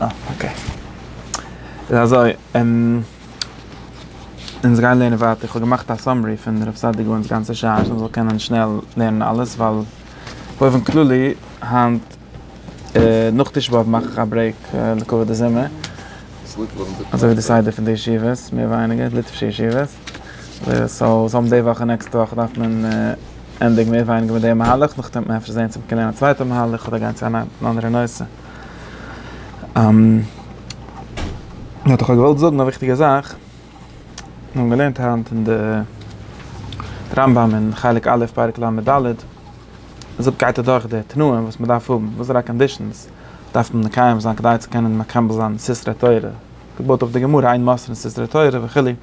אה, אקעי. איז אזוי, אונז גייען לערנען ווייטער, כ'האב געמאכט א סאמערי פון הרב סעדיגור'נס גאנצע שרייבן אז מען זאל קענען שנעל לערנען אלעס, ווייל באופן כללי היינט נאך תשעה באב מאך איך א ברעיק לכבוד די זומער, אזוי ווי די סדר פון די ישיבות, מער ווייניגער, ליטווישע ישיבות, סאו זאל מען די וואך און נעקסטע וואך דארף מען ענדיגן מער ווייניגער מיט די מהלך, נאכדעם וועט מען אפשר זען צו מען קען לערנען א צווייטע מהלך אדער גיין צו אן אנדערע נושא. איך האב דאך געוואלט זאגן א וויכטיגע זאך, מיר האבן געלערנט היינט אין די רמב ם אין חלק א' פרק לד, דארט גייט ער דורך די תנאים וואס מען דארף האבן, וואס זענען די קאנדישאנס דארף מען מקיים זיין כדי צו קענען מקבל זיין סתרי תורה, געבויט אויף די גמרא אין מס' סתרי תורה וכו', און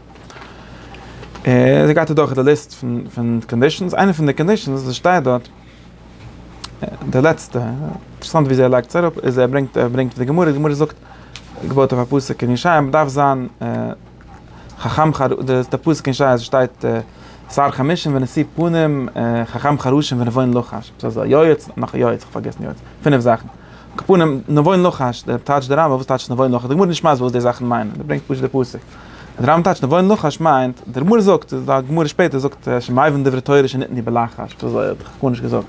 אזוי גייט ער דורך די ליסט פון קאנדישאנס, איינע פון די קאנדישאנס וואס שטייט דארט, די לעצטע, אינטערעסאנט ווי אזוי ער לייגט עס אראפ, איז ער ברענגט ער ברענגט די גמרא, די גמרא זאגט, געבויט אויף א פסוק אין ישעיה, מען דארף זיין חכם ח, די פסוק אין ישעיה שטייט שר חמשים ונשיא פנים, חכם חרשים ונבון לחש, עפעס אזוי, יועץ, נאך א יועץ, איך האב פארגעסן יועץ, פינף זאכן, קאפונים, נבון לחש, טייטשט די רמב ם, וואס טייטשט נבון לחש, די גמרא איז נישט מסביר וואס די זאכן מיינען, ער ברענגט פשוט די פסוק. אז דער רמב ם טייטשט נבון אין לחש מיינט, דער רמב ם זאגט, און די גמרא שפעטער זאגט אז שמייווען דברי תורה שניתני בלחש, וואס האט דאך גארנישט געזאגט.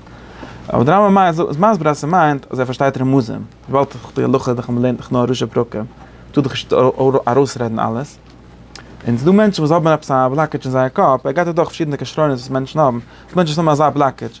אבער דער רמב ם איז מסביר אז ס'מיינט אז ער פארשטייט רמזים, וויבאלד דאך די הלכה דאך אז מען לערנט דאך נאר ראשי פרקים, טאר דאך נישט ארויסרעדן אלעס. און ס'דא מענטשן וואס האבן עפעס א בלאקעדזש אין זייער קאפ, ער געט אויך דורך פארשידענע כשרונות וואס מענטשן האבן, ס'דא מענטשן וואס האבן אזא בלאקעדזש,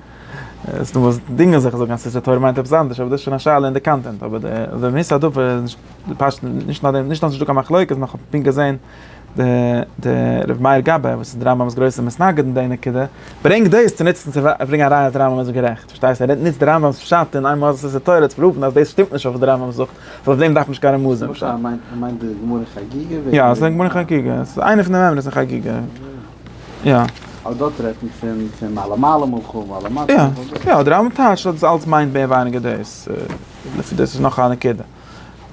ס'איז דא וואס דינגען זיך און זאגן אז ספר תורה מיינט עפעס אנדערש, אבער דאס איז שוין א שאלה אין די קאנטענט, אבער די מהות הדבר איז נישט פשט, נישט נאר דעם, נישט אז נישטא קיין מחלוקת, נאר כ'האב פונקט געזען די רבי מאיר גבאי וואס איז די רמב ם'ס גרויסע מתנגד אין די נקודה, ברענגט דאס צו נוצן צו ברענגען א ראיה אז די רמב ם איז גערעכט, פארשטייסטו? ער נוצט די רמב ם'ס פשט אין עמ' אז ספר תורה צו פראוון אז דאס שטימט נישט אויף וואס די רמב ם זאגט, אז אויף דעם דארף מען נישט קיין רמזים. יא, ס'איז די גמרא אין חגיגה. יא. אבער דארט רעדט מען פון פון מעלה מעלה מלכו ומעלה מטה. יא יא די רמב ם טייטשט אז דאס אלץ מיינט מער ווייניגער דאס, לפי דעס איז נאך א נקודה.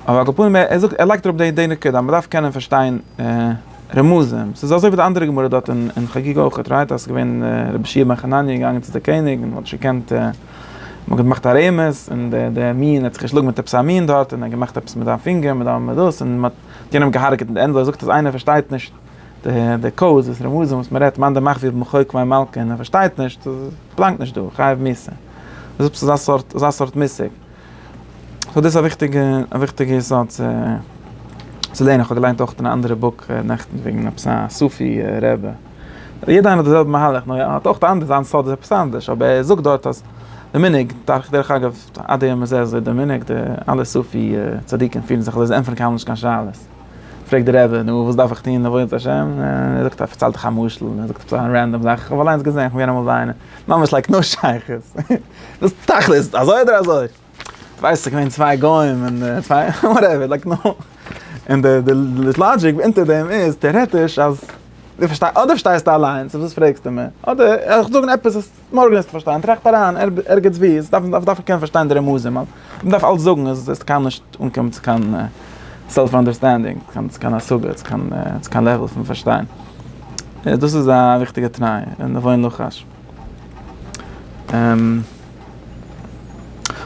אבער על כל פנים ער זאגט ער לייגט אראפ די די נקודה אז מ'דארף קענען פארשטיין רמזים, ס'איז אזוי ווי די אנדערע גמרא דארט אין חגיגה אויך רייט אז ס'איז געווען רבי חייא בן חנניה איז געגאנגען צו די קעניג און מ'האט נישט געקענט מ'האט געמאכט א רמז און די די מין האט זיך געשלאגן מיט עפעס א מין דארט און ער האט געמאכט עפעס מיט זיין פינגער מיט דאס און מ'האט יענעם געהארגעט און ענדליך זאגט אז איינער פארשטייט נישט. די קאוז וואס ר' מאזען וואס מען רעדט מאן דמך ווי במחוק מי מלקה און ער פארשטייט נישט אז עס באלאנגט נישט דא חייב מוסר איז עפעס אזא סארט אזא סארט מושג סאו דאס איז א וויכטיגע א וויכטיגע יסוד צו צו לערנען איך האב געליינט אויך אין א אנדערע בוק נעכטן וועגן עפעס א סופי רבי יעדע איינער האט די זעלבע מהלך נאר ער האט אויך די אנדערע זיין סוד איז עפעס אנדערש אבער ער זאגט דארט אז די מנהג דארך דרך אגב עד היום הזה איז די מנהג די אלע סופי צדיקים פירן זיך אזוי זיי ענטפערן קיינמאל נישט קיין שאלות. פרעגט דער רבי, נו, וואס דארף איך טון, עבודת השם? ער זאגט, ער פארציילט דאך א משל, ער זאגט עפעס א רענדאם זאך, איך האב אליינס געזען, איך בין געווען אמאל ביי איינעם, ממש לייק נאו שייכות, דאס תכלית, אזוי אדער אזוי, כ'ווייס ס'איז געווען צוויי גוים, און צוויי, וואטעווער, לייק נאו, און די לאגיק אונטער דעם איז, טעארעטיש, אז, אדער פארשטייסטו אליינס, אויף וואס פרעגסטו מיר, אדער, איך זאג נאר עפעס וואס. מארגן וועסטו פארשטיין, טראכט אריין ערגעץ ווי, עס דארף מען קענען פארשטיין די רמזים, מען דארף אלץ זאגן, עס וועסטו קיינמאל נישט אנקומען צו קיין סעלף אנדערסטענדינג, צו קיין השגה, צו קיין לעוועל פון פארשטיין, דאס איז א וויכטיגע תנאי, נבוא אין לחש.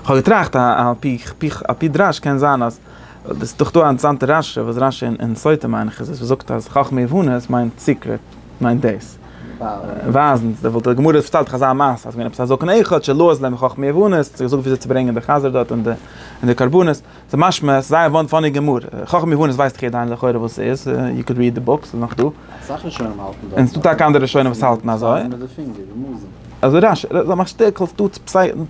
כ'האב געטראכט על פי על פי דרש קען זיין אז, עס איז דאך דא א אינטערסאנטע רשי וואס רשי אין סוטה מיין איך איז עס וואס זאגט אז חכמה יבנה עס מיינט סיקרעט מיינט דאס. ווייזן די וואלט די גמרא האט פארציילט אזא מעשה אז געווען עפעס א זקן אחד שלא אז להם חכמי יוונים צו געזאגט וויאזוי צו ברענגען די חזיר דארט און די קרבנות ס'איז משמע ס'איז זייער וואן פאני גמרא חכם יוונים ווייסט איך עדיין לכאורה וואס ס'איז יו קען ריעד די בוק ס'איז נאך דא אסאך ראשונים האלטן דאס און ס'דא טאקע אנדערע ראשונים וואס האלטן אזוי אזוי רש י מאכט שטערקערס דא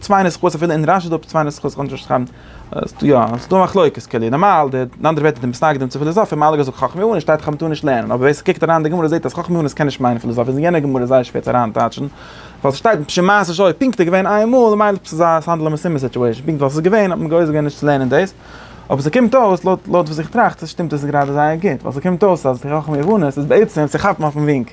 צוויי נסחאות אפילו אין רש י איז דא צוויי נסחאות איך קען נישט שרייבן. יא, ס'איז דא מחלוקת כולי, נארמאל די אין אנדערע ווערטער די מתנגדים צו פיליזאפיע האבן אלע געזאגט חכמי אונן שטייט חכמי תורה נישט לערנען, אבער ווער ס'קוקט אריין אין די גמרא זעט אז חכמי אונן קען נישט מיינען פיליזאפיע, איז אין יענע גמרא זייער שווער צו אריינטייטשן, ווייל ס'שטייט בשם מעשה שהיה, פונקט איז געווען איין מאל, ממילא ס'איז א ס'האנדלט זיך מסתמא סיטואשען, פונקט ווייל ס'איז געווען האט מען געוואוסט געווען נישט צו לערנען דאס, אבער ס'קומט אויס לויט לויט וואס איך טראכט שטימט עס גראדע זייער גוט, ווייל ס'קומט אויס אז חכמי אונן איז בעצם צו כאפן אויפן ווינק.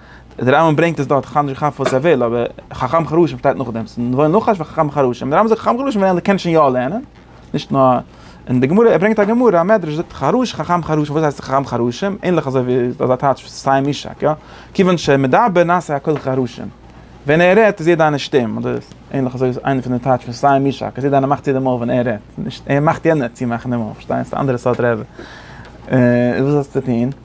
דער רמב ם ברענגט עס דארט, איך כאפ נישט כף וואס ער וויל, אבער חכם חרשים שטייט נאכדעם, ס'איז נבון נחש וחכם חרשים, דער רמב ם זאגט חכם חרשים וועלן קענען שוין יא לערנען, נישט נאר, און די גמרא, ער ברענגט א גמרא, א מדרש זאגט חרוש חכם חרשים, וואס הייסט חכם חרשים? ענליך אזוי ווי דאס איז א טייטש פון סיים משהק, יא? כיוון שמדבר נעשה הכל חרשים, ווען ער רעדט איז יעדע איינער שטום, אדער ענליך אזוי איז איינע פון די טייטש פון סיים משהק, אז יעדע איינער מאכט צו די מויל ווען ער רעדט, נישט ער מאכט יענער צומאכן די מויל, פארשטייסט? אנדערע סארט רעדע. און וואס האסטו צו טון?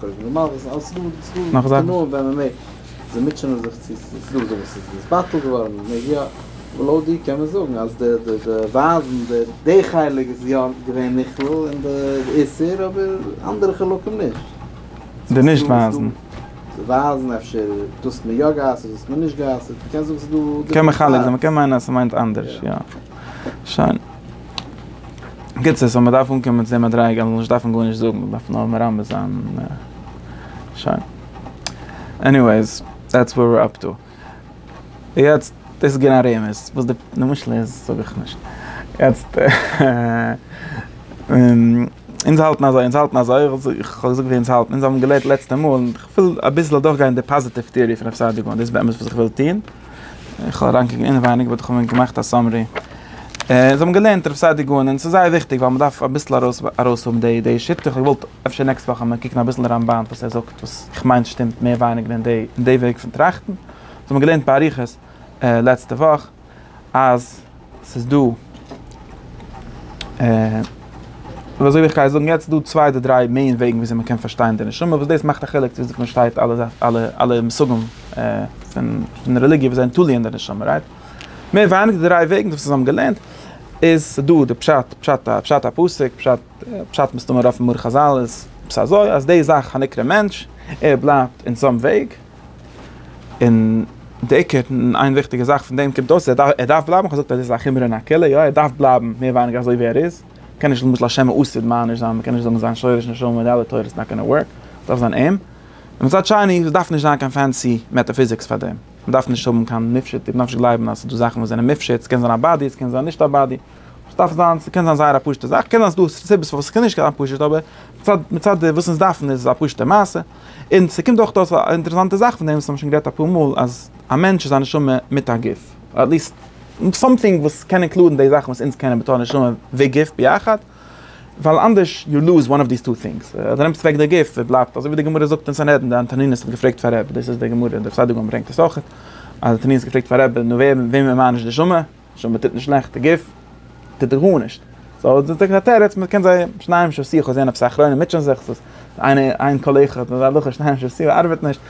קודם נארמאל וואס איז אלס דא דאס דא נאך זאכן ווען מען מעג זיי מוטשענען זיך צו עס איז דא אזוי וואס איז עס בטל געווארן מען מעג יא אבער לויט דיר קען מען זאגן אז די די די ווייזן די די חלק איז יא געווען נכלל אין די איסור אבער אנדערע חלקים נישט די נישט ווייזן די ווייזן אפשר דאס האט מען יא גע'אסר'ט דאס האט מען נישט גע'אסר'ט קען זאגן ס'איז דא קען מחלק זיין מ'קען מיינען אז ס'מיינט אנדערש יא שוין. בקיצור, סאו מ'דארף אנקומען צו די מדריגה אז מ'זאל נישט דארפן גארנישט זאגן, מ'דארף נאר מרמז זיין און שוין. עניוועיס, דעטס ווער וויר אפ טו. יעצט, דאס איז געווען א רמז, וואס די משל איז זאג איך נישט. יעצט, אונז האלטן אזוי, אונז האלטן אזוי, איך האב געזאגט ווי אונז האלטן, אונז האבן געלערנט לעצטע מאל, און איך וויל אביסל אדורכגיין די פאזיטיוו טעארי פון רב סעדיגורא, דאס איז באמת וואס איך וויל טון. איך האב אריינגעקוקט אינעווייניג באט איך האב מיר געמאכט א סאמערי. זיי האבן געלערנט רב סעדי' גאון און ס'איז זייער וויכטיג ווייל מ'דארף אביסל ארויסהאבן די שיטה. איך האב געוואלט אפשר נעקסט וואך ווען מיר קוקן אביסל רמבן וואס ער זאגט וואס איך מיין שטימט מער ווייניגער אין די אין די וועג פון טראכטן. זיי האבן געלערנט באריכות לעצטע וואך אז. ס'איז דא, און אזוי ווי איך גיי זאגן יעצט, דא צוויי אדער דריי מעין וועגן וויאזוי מ'קען פארשטיין די נשמה, וואס דאס מאכט א חילוק צו וויאזוי מ'פארשטייט אלע אלע אלע מושגים פון רעליגיע וואס זענען תלוי אין די נשמה, רייט? מער ווייניגער די דריי וועגן וואס אונז האבן געלערנט, איז ס'דא די פשט, פשט א, פשט א פסוק, פשט, פשט מסתמא אויפן מאור חזל איז עפעס אזוי, אז די זאך הנקרא מענטש, ער בלייבט אין סאם וועג. און די עיקר און איין וויכטיגע זאך פון דעם קומט אויס ער דארף בלייבן, איך האב געזאגט אז דאס איז א חומרא אין הקהילה, יא ער דארף בלייבן מער ווייניגער אזוי ווי ער איז, מען קען נישט למשל השם מען אסר'ט מען נישט זיין, מען קען נישט זאגן זיין שורש נשמה מיט די אלע תורות ס'נאט גאנא ווארק, ס'דארף זיין אים, און מצד שני עס דארף נישט זיין קיין פענסי מעטאפיזיקס פאר דעם, מען דארף נישט האבן קיין מופשט, מען דארף נישט גלייבן אז ס'דא זאכן וואס זענען מופשט, ס'קען זיין א באדי, ס'קען זיין נישט א באדי, ס'דארף זיין, ס'קען זיין זייער א פשוט'ע זאך, קען זיין ס'דא סיבות פארוואס ס'קען נישט זיין פשוט אבער מצד מצד וואס אונז דארפן איז עס א פשוט'ע מעשה. און ס'קומט אויך אויס א אינטערעסאנטע זאך פון דעם וואס מ'האט שוין גערעדט אפאר מאל אז א מענטש איז א נשמה מיט א גוף, אדער עטליסט סאמטינג וואס קען אינקלודן די זאכן וואס אונז קענען בתור נשמה וגוף ביחד, ווייל אנדערש יו לוז וואן אוו דיס טו טינגס, אדער נעמסט אוועק די גוף און בלייבט אזוי ווי די גמרא זאגט אין סנהדרין, די אנטונינוס האט געפרעגט פאר רב, דאס איז די גמרא, די פסאדו גמ' ברענגט עס אויכעט, אז אנטונינוס האט געפרעגט פאר רב, נו ווער וועמען מען מיינט נישט נשמה? שוין מען טוט נישט שלעכטע גוף טוט ער גארנישט סאו איז דאס א תירוץ מען קען זיי שניים של שיח זעהן עפעס א אחרון און מוטשען זיך סאיז איינער איין קאלעכע האט אזא הלכה שניים של שיח ארבעט נישט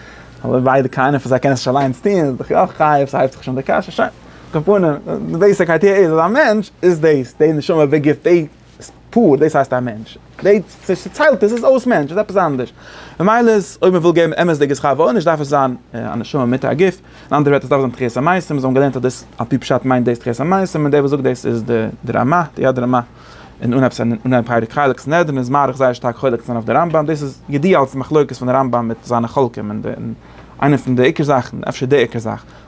אבער ביידע קיינער פון זיי קען עס נישט אליינס טוהן איז דאך יא חייב סאיז הייבט זיך שוין די קשיא שוין כפונים די בעיסיק איידיע איז אז א מענטש איז דאס די נשמה וגוף די איז פאר, דאס הייסט א מענטש. די צעטיילטע איז אויס מענטש, איז עפעס אנדערש. ממילא איז, אויב מ'וויל געבן אמת'דיגע שכר ועונש, דארף עס זיין א נשמה מיט א גוף. אין אנדערע ווערטער, עס דארף זיין תחיית המתים. אונז האבן געלערנט אז דאס, על פי פשט מיינט דאס תחיית המתים, און דער וואס זאגט דאס איז די רמא, די יד רמה. און אנהייב סנהדרין, פרק חלק סנהדרין איז מאריך זייער שטארק חולק צו זיין אויף די רמב ם, דאס איז ידוע אלס מחלוקת פון די רמב ם מיט זיינע חולקים, און איינע פון די עיקר זאכן, אפשר די עיקר זאך.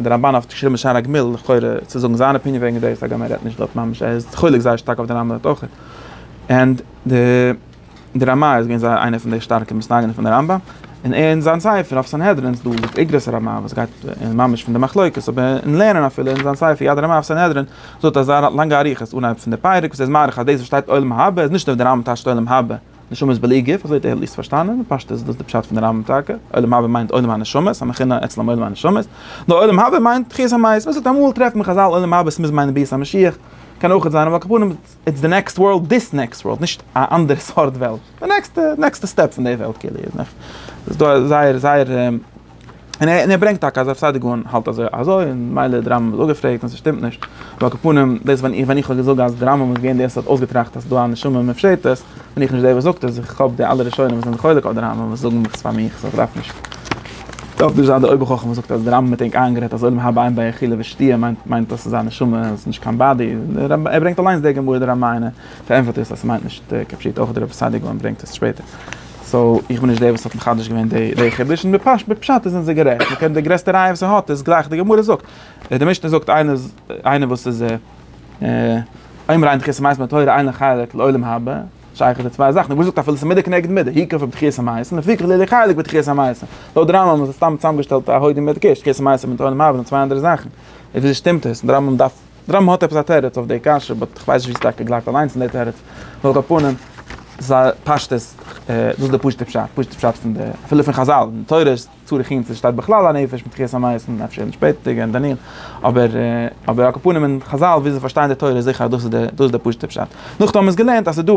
דער רמבן האט געשריבן בשער הגמיל, לכאורה צו זאגן זיין אפיניען וועגן דאס, הגם ער רעדט נישט דארט ממש, ער איז חולק זייער שטארק אויף דער רמבן דארט אויך, ענד די רמ א איז געווען זייער איינער פון די שטארקע מסתייגים פון דער רמבן, און אין זיין ספר אויף סנהדרין איז דא איגרות הרמ א וואס גייט ממש פון די מחלוקת, אבער אין לערנען אפילו אין זיין ספר יד הרמ א אויף סנהדרין זאגט ער זייער לאנגע אריכות אנהייב פון די פרק וואס ער איז מאריך אז דאס וואס שטייט עולם הבא איז נישט אויף די רמבן טייטשט עולם הבא. נשמות בלי גוף, אזוי האט ער עטליסט פארשטאנען, פשטות איז דאס די פשט פון די רמב ם טאקע, עולם הבא מיינט עולם הנשמות, המכונה אצלם עולם הנשמות, נאר עולם הבא מיינט תחיית המית, מען זאגט אמאל טרעפט מען חזל עולם הבא ס'מוז מיינען ביאת המשיח, קען אויך זיין, אבער על כל פנים איטס די נעקסט ווארלד, דיס נעקסט ווארלד, נישט א אנדערע סארט וועלט, די נעקסטע, נעקסטע סטעפ פון די וועלט כאילו, זייער זייער. און ער ברענגט טאקע אז רב סעדי' גאון האלט אזוי אזוי און מילא דער רמב ם איז אפגעפרעגט און ס'שטימט נישט, ועל כפנים דאס ווען איך ווען איך האב געזאגט אז דער רמב ם איז געווען דער וואס האט אויסגעטראכט אז ס'איז דא א נשמה מופשטת, בין איך נישט דער וואס זאגט עס, איך האב די אלע ראשונים וואס זענען חולק אויף דער רמב ם וואס זאגן עס פאר מיך, סאו איך דארף נישט. דארף נישט זיין דער אויבערחכם וואס זאגט אז דער רמב ם האט ענק איינגערעדט אז עולם הבא אין ביי אכילה ושתיה מיינט מיינט אז ס'איז א נשמה און ס'איז נישט קיין באדי, דער רמב ם ער ברענגט אליינס די גמרא דער רמ ע און ער פארענטפערט איר אז ס'מיינט נישט כפשוטו, אויך דער רב סעדי' גאון ברענגט עס שפעטער. סאו איך בין נישט דער וואס האט מחדש געווען די חידוש, און בפשט זענען זיי גערעכט, מען קען די גרעסטע ראיה וואס ער האט איז גלייך די גמרא זאגט, די משנה זאגט איינער וואס איז עומר עין דחיית המעשים בתורה אין לו חלק לעולם הבא, שייך איז די צוויי זאכן, די גמרא זאגט אפילו ס'איז מידה כנגד מידה, היכא פון דחיית המעשים לפיכך איז לידי חלק בדחיית המעשים, לויט די רמב ם איז עס סתם צוזאמגעשטעלט א הוידעם מיט קיש, דחיית המעשים מיט עולם הבא זענען צוויי אנדערע זאכן, וויאזוי שטימט עס? די רמב ם דארף. די רמב ם האט עפעס א תירוץ אויף די קשיא, באט כ'ווייס נישט ווי ס'טאקע גלייבט אליינס אין די תירוץ, נאר אויף א פנים זיי פשטות, דאס איז די פשוטע פשט, פשוטע פשט פון די, אפילו פון חזל, אין תורה איז צרחין צו שטייט בכלל א נפש מיט תחיית המית און אפשר אין שפעטערדיגע אין דניאל, אבער אבער על כל פנים אין חזל ווי זיי פארשטייען די תורה איז זיכער אז דאס איז די דאס איז די פשוטע פשט, נאכדעם האט מען עס געלערנט אז ס'איז דא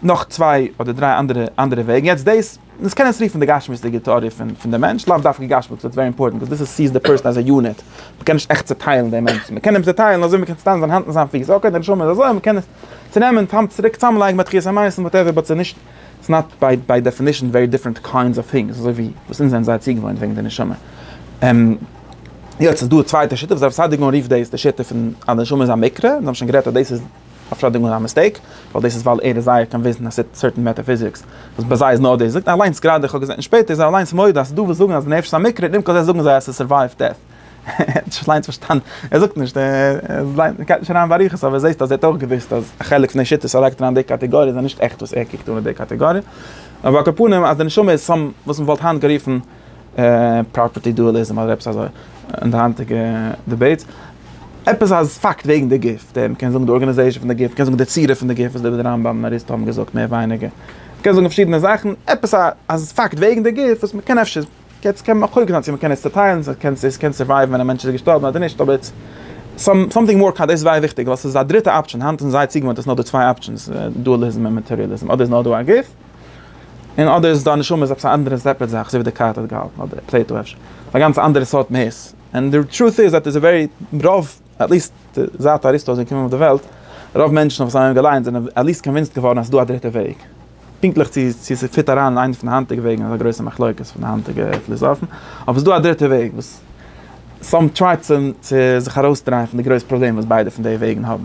נאך צוויי אדער דריי אנדערע אנדערע וועגן, יעצט דאס. דאס קען עס רופן די גשמיות'דיגע טעאריע פון די מענטש, לאו דווקא גשמיות, ס'ווערט ווערי אימפארטענט ביז דאס סיעס די פערסאן עז א יוניט, מ'קען נישט עכט צעטיילן דעם מענטשן, מ'קען אים צעטיילן אזוי מ'קען צעטיילן זיין האנט און זיין פיס, אקעי די נשמה איז אזוי, מ'קען עס צונעמען, צוריק צוזאמלייגן ביי תחיית המתים וואטעווער, באט ס'איז נישט, ס'איז נאט ביי דעפינישן ווערי דיפרענט קיינדס אוו טינגס, אזוי ווי וואס אונז זענען זייער צוגעוואוינט וועגן די נשמה. יעצט איז דא א צווייטע שיטה וואס הרב סעדיגורן רופט דאס די שיטה פון אז די נשמה איז א מקרה, אונז האבן שוין גערעדט אז דאס איז. אפשאדונג און א מיסטעיק, ווייל דאס איז ווייל ער איז זייער קאנוויסד אין א סערטען מעטאפיזיקס, וואס ביי זיי איז נאר דאס, זאגט ער אליינס גראדע, איך האב געזען שפעטער איז ער אליינס מודה אז ס'איז דא וואס זאגן אז די נפש איז א מקרה, און עמקות זיי זאגן זיי אז ס'איז סורווייוו דעט. ער האט נישט אליינס פארשטאנען, ער זאגט נישט, ער גייט נישט אריין באריכות, אבער זעסט אז ער האט אויך געוואוסט אז א חלק פון די שיטות ער לייגט אריין די קאטעגאריע זענען נישט עכט וואס ער קוקט אן אין די קאטעגאריע, אבער על כל פנים אז די נשמה איז סאם וואס מ'וואלט היינט גערופן. פראפערטי דועליזם אדער עפעס אזוי אין די היינטיגע דיבעיטס, עפעס א פאקט וועגן די גוף, די מ'קען זאגן די ארגאניזעישאן פון די גוף, מ'קען זאגן די צורה פון די גוף וואס די רמב ם און אריסטו האבן געזאגט מער ווייניגער, מ'קען זאגן פארשידענע זאכן, עפעס א א פאקט וועגן די גוף וואס מ'קען אפשר, יעצט קען מען מחלוק זיין צו מ'קען עס צעטיילן, צו קען עס קען סורווייוון ווען א מענטש איז געשטארבן אדער נישט אבער איטס סאם סאמטינג מאר קאנ דאס איז זייער וויכטיג ווייל ס'איז א דריטע אפשען, היינט זענען זייער צוגעוואוינט אז ס'נאר דא צוויי אפשענס דועליזם און מעטעריעליזם, אדער איז נאר דא א גוף, און אדער איז דיין נשמה איז עפעס א אנדערע סעפערעט זאך אזוי ווי דעקארט האט געהאלטן אדער פלעיטא אפשר א גאנץ אנדערע סארט מהות און די טרוט איז עט איז א ווערי רוב עטליסט זייט אריסטו איז געקומען אויף די וועלט רוב מענטשן וואס האבן אים געליינט זענען עטליסט קאנווינסט געווארן אז ס'איז דא א דריטע וועג פונקטליך צו צו ס'פיט אריין אין איינע פון די היינטיגע וועגן איז א גרויסע מחלוקת פון די היינטיגע פיליזאפן אבער ס'איז דא א דריטע וועג וואס סאם טריי צו זיך ארויסדרייען פון די גרויס פראבלעם וואס ביידע פון די וועגן האבן.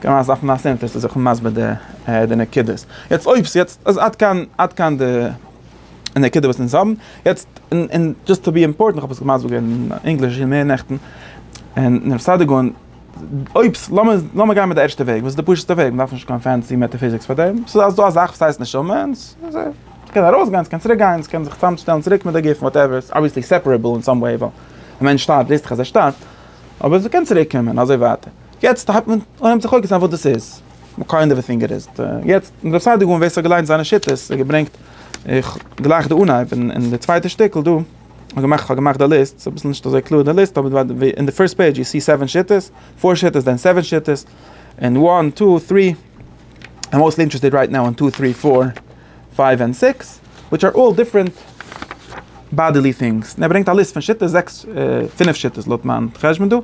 קען מען עס דארפן א סענטער צו זיך מסביר די נקודות. יעצט אויב ס'יעצט אז עד כאן עד כאן די נקודה וואס אונז האבן. יעצט און דזשאסט טו בי אימפארטענט איך האב עס מסביר געווען אין ענגליש מער נעכטן און רב סעדיגון אויב ס לאמיר לאמיר גיין מיט די ערשטע וועג וואס איז די פשוט'סטע וועג מ'דארף נישט קיין פענסי מעטעפיזיקס פאר דעם ס'איז אז דא א זאך וואס הייסט נשמה און ס'קען ארויסגיין ס'קען צוריק גיין ס'קען זיך צוזאם שטעלן צוריק מיט די גוף וואטעווער ס'איז אבוויעסלי סעפערעבל אין סאם וועי ווייל ווען מענטש שטארבט וויסטעך אז ער שטארבט אבער ס'קען צוריק קומען און אזוי ווייטער. יעצט הייבט מען אן זיך חוקר זיין וואס דאס איז, וואט קיינד אוו א טינג איט איז, יעצט אין רב סעדיגור'ן ווער ס'האט געליינט זיינע שיטות און געברענגט, איך גלייך די אנהייב און די צווייטע שטיקל דא, כ'האב געמאכט כ'האב געמאכט די ליסט, ס'איז אביסל נישט אזוי קלאר די ליסט, אבער אין די פירסט פעידזש יו סי סעווען שיטות, פאר שיטות דען סעווען שיטות, און וואן טו טרי, איים מאוסטלי אינטערעסטעד רייט נאו און טו טרי פאר. פייוו ענד סיקס, וויטש אר אלל דיפרענט באדעלי טינגס, און ער ברענגט א ליסט פון שיטות, זעקס, פינף שיטות לויט מיין חשבון דא,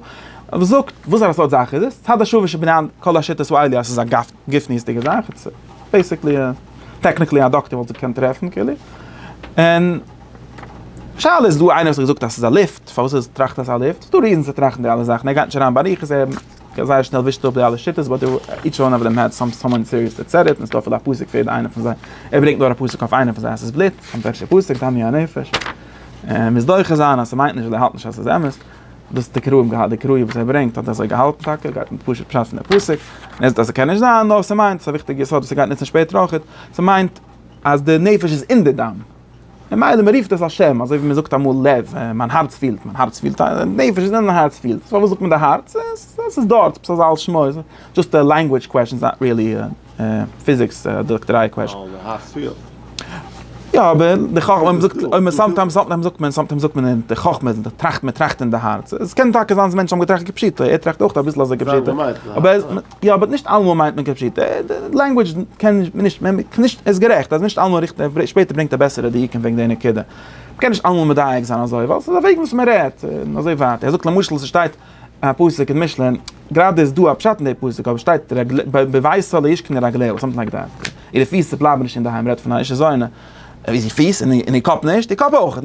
וואס זאגט וואס פאר א סארט זאך איז עס, צד השווה שבענין כל השיטות הוא עלי' אז עס איז א גופניות'דיגע זאך, איטס בעיסיקלי א, טעקניקלי א דאקטער וואלט זיך געקענט טרעפן כאילו, און שאלה איז דא איינער וואס האט געזאגט אז עס איז א לופט, פארוואס איז טראכט אז עס איז א לופט, ס'איז דא ריזענס צו טראכטן די אלע זאכן, ער גייט נישט אריין באריכות, ער. כ'האב זייער שנעל ווישט אפ די אלע שיטות, באט איטש וואן אוו דעם האט סאם סאמאן סיריעס טו סעט איט, און עס איז דא אפילו א פסוק פאר יעדע איינע פון זיי, ער ברענגט נאר א פסוק אויף איינע פון זיי אז ס'איז בלוט, און וועלכע פסוק, דמי הנפש, און מוז דוחה זיין אז ס'מיינט נישט אז ער האלט נישט אז ס'איז אמת, דאס האט די קראים געהאט, די קראים וואס ער ברענגט האט אזוי געהאלטן טאקע, ער גייט מיט פשוט פשט פון די פסוק, און ער זאגט אז ס'קען נישט זיין, נאר ס'מיינט, ס'איז א וויכטיגע יסוד וואס ער גייט נוצן שפעטער אויכעט, ס'מיינט אז די נפש איז אין די דם. ממילא מען רופט עס א שם, אזוי ווי מען זאגט אמאל לב, מיין הארץ פילט, מיין הארץ פילט, נפש איז אין הארץ פילט, פארוואס זאגט מען די הארץ, עס איז דארט, עפעס אזא על שמו, דזשאסט א לענגווידזש קוועשאן, איז נאט ריעלי א פיזיקס אדער דאקטעריי קוועשאן. די הארץ פילט. יא אבער די חכמה, אויב מען זאגט, אויב מען סאמטיימס זאגט מען, סאמטיימס זאגט מען, זאגט מען אין די חכמה איז מען טראכט אין די הארץ, עס קען טאקע זיין אז מענטשן האבן געטראכט כפשוטו, ער טראכט אויך אביסל אזוי כפשוטו, אבער. יא באט נישט אלעמאל מיינט מען כפשוטו, לענגווידזש קען מען נישט, מען קען נישט, ער איז גערעכט אז נישט אלעמאל ריכטיג, ער שפעטער ברענגט א בעסערע דיוקים וועגן די נקודה, מען קען נישט אלעמאל מדייק זיין אזוי, ווייל ס'איז א וועג וואס מען רעדט, און אזוי ווייטער, ער זאגט למשל ס'שטייט א פסוק אין משלי, גראדע איז דא א פשט אין די פסוק, אבער ס'שטייט בביתו לא ישכון רגליו, סאמטינג לייק דעט, אירע פיס בלייבן נישט אינדערהיים, מ'רעדט פון א אישה זונה, איז איר פיס, און איר קאפ נישט, איר קאפ אויך,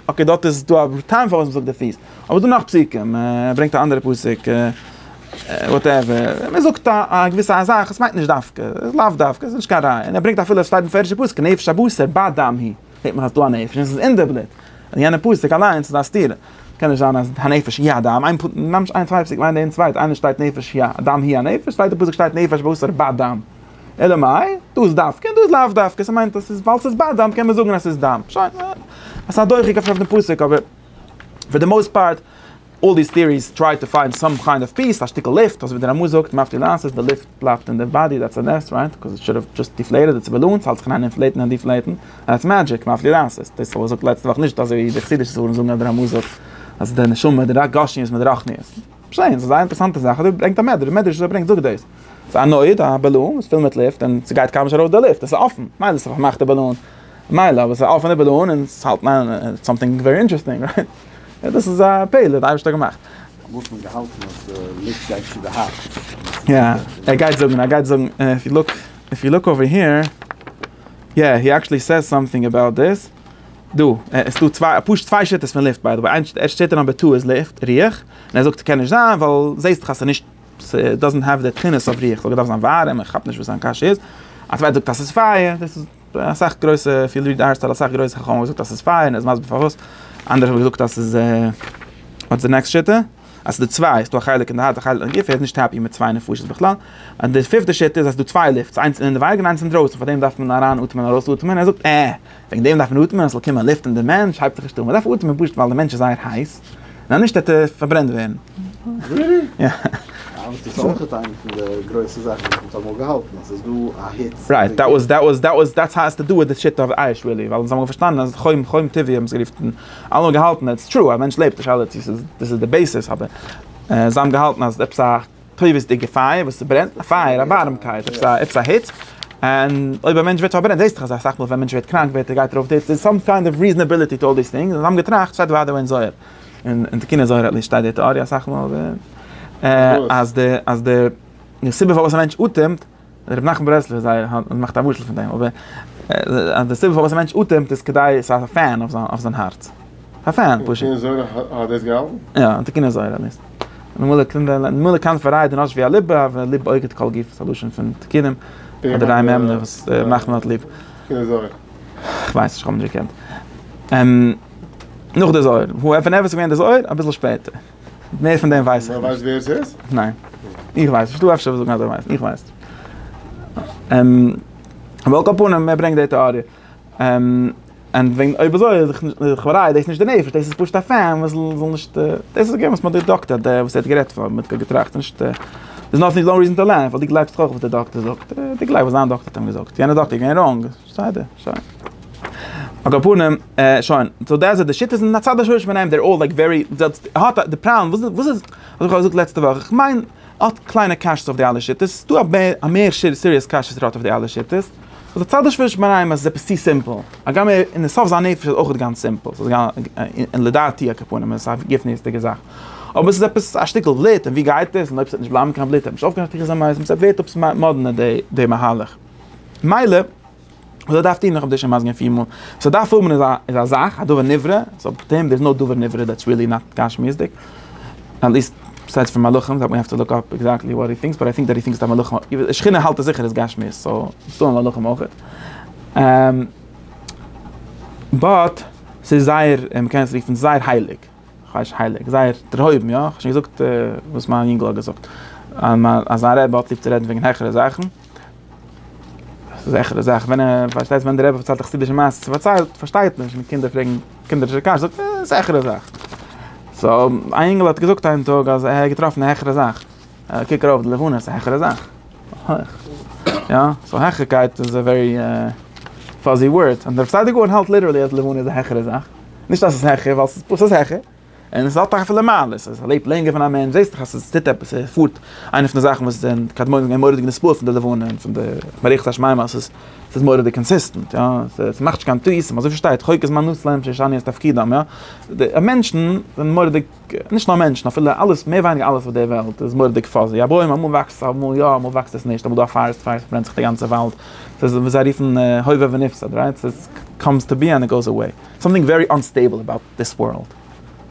אקעי דארט איז דא א טעם פארוואס מ'זאגט די פיס. אבער דא נאך פסוקים, ער ברענגט א אנדערע פסוק, וואטעווער, מען זאגט א געוויסע א זאך, עס מיינט נישט דווקא, לאו דווקא, עס איז נישט קיין ראיה, און ער ברענגט אפילו עס שטייט אין פערדשע פסוק נפש הבשר בה דם היא, זעט מען אז דא א נפש און עס איז אין די בלוט, און יענע פסוק אליינס איז א סתירה, קען נישט זיין אז הנפש היא הדם, איין פ מ ממש איין צוויי פסוקים איינער אין צווייטע, איינער שטייט נפש היא א דם היא א נפש, צווייטע פסוק שטייט נפש הבשר בה דם, אלא מאי, דא איז דווקא און דא איז לאו דווקא, עס מיינט אז עס איז ווייל עס איז בה דם קען מען זאגן אז עס איז דם, שוין, עס איז א דוחק אויף דעם פסוק אבער. פאר די מאוסט פארט, אלל דיס טעאריס טריי טו פיינד סאם קיינד אוו פיס, א שטיקל לופט, אזוי ווי דער רמא זאגט, מאפטי לאנסעס, די לופט בלייבט אין די באדי, דעטס א נס, רייט? קאוז איט שוד האוו דזשאסט דיפלעיטעד איטס באלונס, האלט זיך אריין אינפלעיטן און דיפלעיטן, און עטס מעדזשיק, מאפטי לאנסעס, דאס וואס זאגט לעצטע וואך נישט אזוי ווי די חסידישע ספרים זאגן אז דער רמא זאגט אז די נשמה די גשמיות מיט די רחניות. שוין, ס'איז א זייער אינטערעסאנטע זאך, אזוי ברענגט א מדרש, די מדרש וואס ער ברענגט זאגט דאס. ס'איז א נויט, א באלון, איז פול מיט לופט, און ס'גייט קיינמאל נישט ארויס די לופט, עס איז אפן, מילא ס'איז א פארמאכטע באלון, מילא אבער ס'איז אויף און איבער דא און אונז האלט מיין סאמטינג ווערי אינטערעסטינג רייט? דאס איז א פעלער די אייבערשטער האט געמאכט. מוז מען געהאלטן אז די לופט גייט צו די הארץ. יא ער גייט זאגן ער גייט זאגן איף יו לוק איף יו לוק אווער היער יא הי עקשעלי סעיז סאמטינג אבאוט דיס דא עס איז דא צוויי פשוט צוויי שיטות פון לופט ביי די וועי ערשט שטייט ער נאמבער טו איז לופט ריח און ער זאגט קען נישט זיין ווייל זעהסט דאך אז ס'איז נישט ס'דאזענט העוו די תכונות אויף ריח סאו געדארפט זיין ווארעם איך כאפ נישט וואס זיין קשיא איז א צווייטער זאגט אז ס'איז פייער דאס איז. אסאך גרויסע פיל ריעד ארטיקל אסאך גרויסע חכמים האבן געזאגט אז ס'איז פיין און מסביר פארוואס, אנדערע האבן געזאגט אז ס'איז וואטס די נעקסט שיטה? אז ס'איז דא צוויי, ס'איז דא א חלק אין די הארץ א חלק אין די גוף, ער איז נישט העפי מיט צוויי נפשות בכלל, און די פיפטע שיטה איז אז ס'איז דא צוויי לופטס, איינס אינעווייניג און איינס אינדרויסן, פאר דעם דארף מען אריין אטעמען און ארויס אטעמען, ער זאגט עה! וועגן דעם דארף מען אטעמען אז ס'זאל קומען לופט אין די מענטש, הייבט זיך נישט אן, מ'דארף אטעמען פשוט ווייל די מענטש איז זייער הייס. ניין נישט ער טאר פארברענט ווערן. רילי? יא. אבער ס'איז אויך איינע פון די גרויסע זאכן וואס מ'האט אמאל געהאלטן אז ס'איז דא א היץ. רייט, דעט וואס דעט וואס דעט וואס דעטס האו עס טו דו וויט די שיטה אוו אייש רילי, ווייל אונז האמיר פארשטאנען אז חום חום טבעי האבן עס גערופן, אלעמאל געהאלטן, עטס טרו א מענטש לעבט די שאלה צו ס'איז דאס איז די בעיסיס אבער זיי האבן געהאלטן אז עפעס א. טובות'דיגע פייער וואס ס'ברענט, א פייער, א ווארעמקייט, עפעס א, עפעס א היץ, און אויב א מענטש ווערט פארברענט, זעסטעך אז אסאך מאל ווען א מענטש ווערט קראנק ווערט ער גייט ארויף די היץ, דער'ס סאם קיינד אוו ריזענעביליטי טו אלל דיס טינגס, און זיי האבן געטראכט, שטייט וויידער אין זוהר, אין תקוני זוהר עטליסט שטייט די טעאריע אסאך מאל, אז די, אז די, די סיבה פארוואס א מענטש אטעמט, ר' נחמן ברסלב איז זייער הארט און מאכט א משל פון דעם אבער אז די סיבה פארוואס א מענטש אטעמט איז כדי ס'האט א פען אויף זיין הארץ. א פען פשוט. און זוהר האט דאס געהאלטן? יא, און תיקוני זוהר האט דאס. ממילא קען דער ממילא קאנט פארייד און אש ווי א ליב אב ווען ליב אויגעט כל גוף איז א לשון פון תיקונים אדער א מ מ וואס ר' נחמן האט ליב. תיקוני זוהר. כ'ווייס נישט כ'האב נישט געקענט. נאך די זוהר. וואו איפה ואיפה איז געווען די זוהר? אביסל שפעטער. מער פון דעם ווייס איך נישט. ווייסט ווער עס איז? ניין. איך ווייס נישט. דו אפשר וועסט זאגן אז דו ווייסט. איך ווייס נישט. על כל פנים, ער ברענגט די טעאריע. און וועגן אויב אזוי איז דאך לכאורה איז דאס נישט די נפש, דאס איז פשוט א פען וואס זאל נישט, דאס איז געווען וואס מ'האט געדאקטעט, די וואס ער האט גערעדט פון, מ'האט געטראכט נישט, דער'ס נאטינג, נאו ריזען טו לערן, ווייל דו גלייבסט דאך אויף וואס די דאקטער זאגט, דו גלייבסט וואס זיין דאקטער האט אים געזאגט, יענער דאקטער איז געווען ראנג. בסדר, שוין. על כל פנים, שוין, סאו דעס איז די שיטות און הצד השני פון אים, דער אויל לייק ווערי, האט די פראבלעם, וואס איז, האב איך שוין געזאגט לעצטע וואך, איך מיין, האט קליינע קשיות אויף די אלע שיטות, ס'איז דא א מער סיריעס קשיות וואס ער האט אויף די אלע שיטות, אז הצד השני פון אים אז עס איז עפעס צו סימפל, הגם ער אין די סוף זיין נפש איז אויך גאנץ סימפל, ס'איז גאנץ, לדעתי על כל פנים, און עס איז א גופניות'דיגע זאך, אבער עס איז עפעס א שטיקל בלוט, און ווי גייט עס, און אויב עס וועט נישט בלייבן קיין בלוט, ער האט נישט אויפגעכאפט איך זיין מיינסט, עס ווערט עפעס מאדנע די מהלך. מילא, וואס ער דארף טון, איך האב דיר שוין מסביר געווען פיר מאל, וואס ער דארף האבן איז א זאך, א דבר נברא, סאו פטר'ן דער איז נאר דבר נברא, דעטס ריעלי נאט גשמיות'דיג, עטליסט ביסיידס פון מלאכים, ווי האסט געזאגט, שכינה האלט עס זיכער איז גשמיות, סאו ס'איז דא מלאכים אויכעט, באט ס'איז זייער, מ'קען עס רופן זייער הייליג, כאניש הייליג, זייער דערהויבן, יא, כ'האב שוין געזאגט וואס מיין יונגל האט געזאגט, אז זיין רבי האט ליב צו רעדן וועגן העכערע זאכן. ס'איז א זעכערע זאך, ווען ער, פארשטייסט ווען די רבי פארציילט א חסידישע מעשה, ס'פארציילט, פארשטייט נישט, און קינדער פרעגן קינדערישע קשיות, זאגט ער, א זעכערע זאך. סאו, א אינגל האט געזאגט איין טאג אז ער האט געטראפן א העכערע זאך. קוק ארויף די לבנה, ס'איז א העכערע זאך. הויך. יא, סאו העכערקייט איז א ווערי פאזי ווארד. און דער פסאדער גאון האלט ליטערלי אז די לבנה איז א העכערע זאך. נישט אז ס'איז העכער, ווייל ס'איז פשוט העכער. און עס האט אויך אפילו מעלות, אז ער לעבט לענגער פון א מענטש, זעסט דאך אז עס טוט עפעס, ער פארט, איינע פון די זאכן וואס זענען קדמונים זענען געווען מורא'דיגע נספור פון די לבנה און פון די מערכת השמים אז עס איז מורא'דיג קאנסיסטענט, יא, עס מאכט נישט קיין טעותים, אזוי ווי שטייט, חוקת מנוצלים שישנו את תפקידם, יא, די מענטשן זענען מורא'דיג, נישט נאר מענטשן, אפילו אלעס, מער ווייניגער אלעס אויף דער וועלט איז מורא'דיג פאזי, א בוים אמאל וואקסט עס, אמאל יא, אמאל וואקסט עס נישט, אמאל איז דא א פארעסט פייער, ס'ברענט זיך די גאנצע וואלד, עס איז וואס זיי רופן הווה ונפסד, רייט, עס קאמס טו בי ענד איט גאוס עוועי, סאמטינג ווערי אנסטעיבל עבאוט. דיס ווארלד.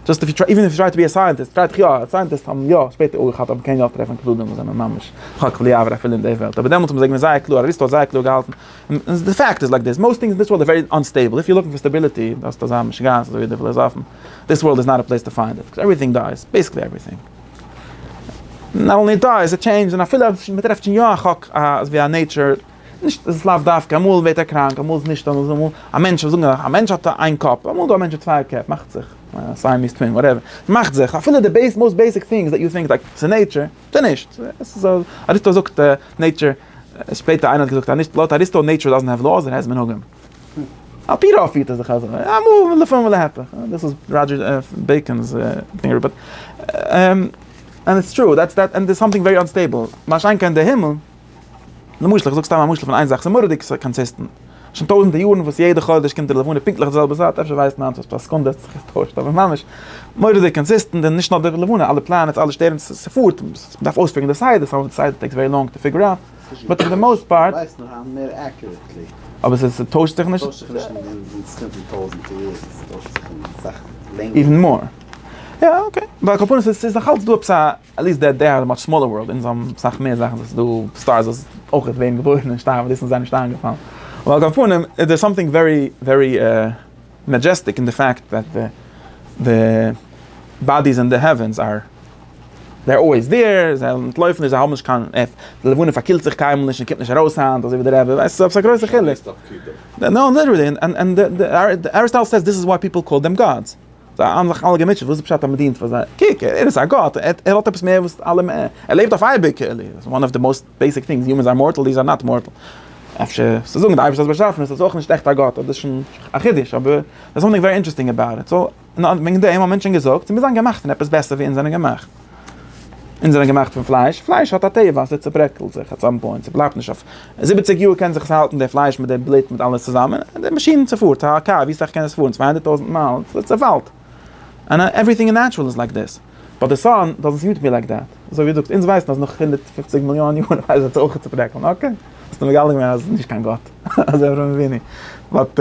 דזשאסט איף יו טריי, איווען איף יו טריי טו בי א סייענטיסט, טריי דיך יא, סייענטיסט האבן יא שפעטער אויך געהאט אבער קען יא אויך טרעפן קלדים וואס זענען ממש חק בלי עבר אפילו אין די וועלט, אבער דעמאלטס האבן זיי געווען זייער קלאר, אריסטו האט זייער קלאר געהאלטן, און די פעקט איז לייק דיס, מאוסט טינגס אין דיס ווארלד אר ווערי אנסטעיבל, איף יו לוקינג פאר סטעביליטי, דארפסטו אזא משוגעת אזוי ווי די פילאזאפן, דיס ווארלד איז נאט א פלעיס טו פיינד איט, קאוז עווריטינג דייס, בעיסיקלי עווריטינג. נאט אנלי דייס, איט טשעינדזשד, און אפילו אז מ'טרעפט שוין יא א חק, אזווי א נעיטשער. נישט עס איז לאו דווקא אמאל ווערט ער קראנק אמאל איז נישט אמאל איז א מענטש זאגן אז א מענטש האט איין קאפ אמאל איז דא א מענטש מיט צוויי קעפ מאכט זיך סיי מ'איז טווין וואטעווער ס'מאכט זיך אפילו די בעיס מאסט בעיסיק טינגס דעט יו טינק לייק ס'איז נעיטשער ס'איז נישט אריסטו זאגט נעיטשער שפעטער איינער האט געזאגט אז נישט לויט אריסטו נעיטשער דאזענט העוו לאוס איט העז מנהגים על פי רוב פירט עס זיך אזוי אמאל ולפעמים ולהפך דאס איז ראדזשער בעיקאן'ס דינגער באט און איטס טרו דעטס דעט און דער סאמטינג ווערי אנסטעיבל מה שאין כן די הימל. למשל, איך זאג סתם א משל פון איין זאך, ס'איז מורא'דיג קאנסיסטענט. שוין טויזנטער יארן וואס יעדע חודש קומט די לבנה פונקטליך די זעלבע צייט, אפשר ווייסט מיינס וואס פאר סעקונדע האט זיך געטוישט, אבער ממש מורא'דיג קאנסיסטענט, און נישט נאר די לבנה, אלע פלאנעטס, אלע שטערן, ס'פארט, מ'דארף אויספיגערן די סדר, סאו די סדר טעיקס ווערי לאנג טו פיגער אוט, באט פאר די מאוסט פארט. אבער עס טוישט זיך נישט? איווען מאר. יא אקעי, ווייל כפונס עס איז נאכאלץ דא עפעס א. עט ליסט דעט דעי האד א מאטש סמאלער ווארלד, אונז האבן אסאך מער זאכן, ס'איז דא סטארס וואס אויך ווערן געבוירן און שטארבן, דאס איז זיי נישט איינגעפאלן, אבער על כל פנים איז דער סאמטינג ווערי ווערי מעדזשעסטיק אין די פאקט דעט די די באדיס אין די העווענס אר דער אלוועיס דעיר, זיי אנטלויפן נישט זיי האבן נישט קיין עף, די לבנה פארקילט זיך קיינמאל נישט און קומט נישט ארויס היינט אזוי ווי די רבי ווייסט עפעס א גרויסע חילוק, נאו ליטערלי, און און אריסטאטעל סעיס דיס איז וואי פיפעל קאל דעם גאדס. זיי האבן זיך אלע געמוטשעט וואס איז פשט אז מען דינט פאר זיי, קוק ער איז א גאט ער האט עפעס מער וואס אלע מער, ער לעבט אויף אייביג, וואן אוו די מאוסט בעיסיק טינגס, יומענס אר מארטעל דיעס אר נאט מארטעל, אפשר צו זאגן די אייבערשטער האט באשאפן איז עס אויך נישט עכט א גאט, אבער דאס איז שוין א חידוש, אבער דער איז סאמטינג ווערי אינטערעסטינג אבאוט איט, סאו וועגן דעם האט מענטשען געזאגט, מיר זענען געמאכט פון עפעס בעסער ווי אונז זענען געמאכט. אונז זענען געמאכט פון פלייש, פלייש האט א טבע אז ס'צעברעקלט זיך אט סאם פוינט, ס'בלייבט נישט אויף זיבעציג יאר קען זיך עס האלטן די פלייש מיט די בלוט מיט אלעס צוזאמען, און די מאשין ס'פארט א קאר ווי סאך קען עס פארן צוויי הונדערט טויזנט מייל ס'צעפאלט, אנד עווריטינג אין נעטשרעל איז לייק דעס, באט די סאן דאזענט סוט מי לייק דעט, אזוי ווי דו זאגסט אונז ווייסן אז נאך הונדערט פֿופֿציק מיליאן יאר וועט עס אויך צעברעקלן, אקעי, האסט מגלה געווען אז ס'איז נישט קיין גאט, אזוי אברהם אבינו, באט.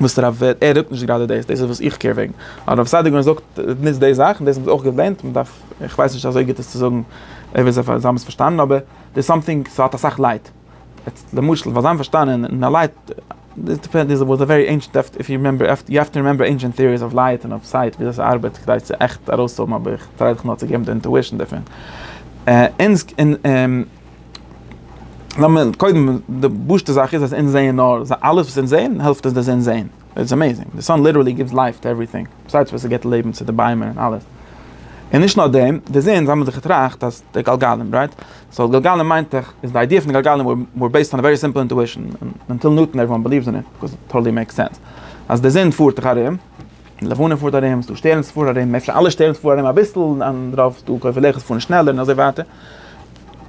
וואס דער רב ער רעדט נישט גראדע דאס, דאס איז וואס איך קעיר וועגן, הרב סעדיגורא ווען ער זאגט ניצט די זאכן, דאס האבן זיי אויך געלערנט, מען דארף, איך ווייס נישט אזוי גוט עס צו זאגן, אויב זיי האבן עס פארשטאנען, אבער דער סאמטינג ס'האט אסאך לייט, יעצט למשל פאר זיי האבן פארשטאנען און א לייט, דאס דיפענד איז וואס א ווערי ענשענט עפט איף יו רימעמבער, יו העוו טו רימעמבער ענשענט טעאריס אוו לייט און אוו סייט וויאזוי ס'ארבעט כדי צו עכט ארויסהאבן אבער איך טריי דיך נאר צו געבן די אינטואישן דערפון. לאמיר קודם, די פשוט'ע זאך איז אז אונז זעען נאר, אלעס וואס אונז זעען העלפט אונז דאס אונז זעען, איטס עמעיזינג, די סאן ליטערלי גיווס לייף טו עווריטינג, בסידס וואס עס גיבט לעבן צו די ביימער און אלעס, און נישט נאר דעם, די זון, זיי האבן זיך געטראכט אז די גלגלים, רייט? סאו גלגלים מיינט דאך, איז די איידיע פון די גלגלים וואר בעיסד אן א ווערי סימפל אינטואישן, און אנטיל נוטאן עוועריוואן בעליווס אין איט, קאז איט טאטעלי מעיקס סענס, אז די זון פארט דאך ארום, לבנה פארט ארום, ס'דא שטערנס פארן ארום, אפשר אלע שטערנס פארן ארום אביסל, און אנדערע ס'דא קויפעלעכעס פארן שנעלער און אזוי ווייטער,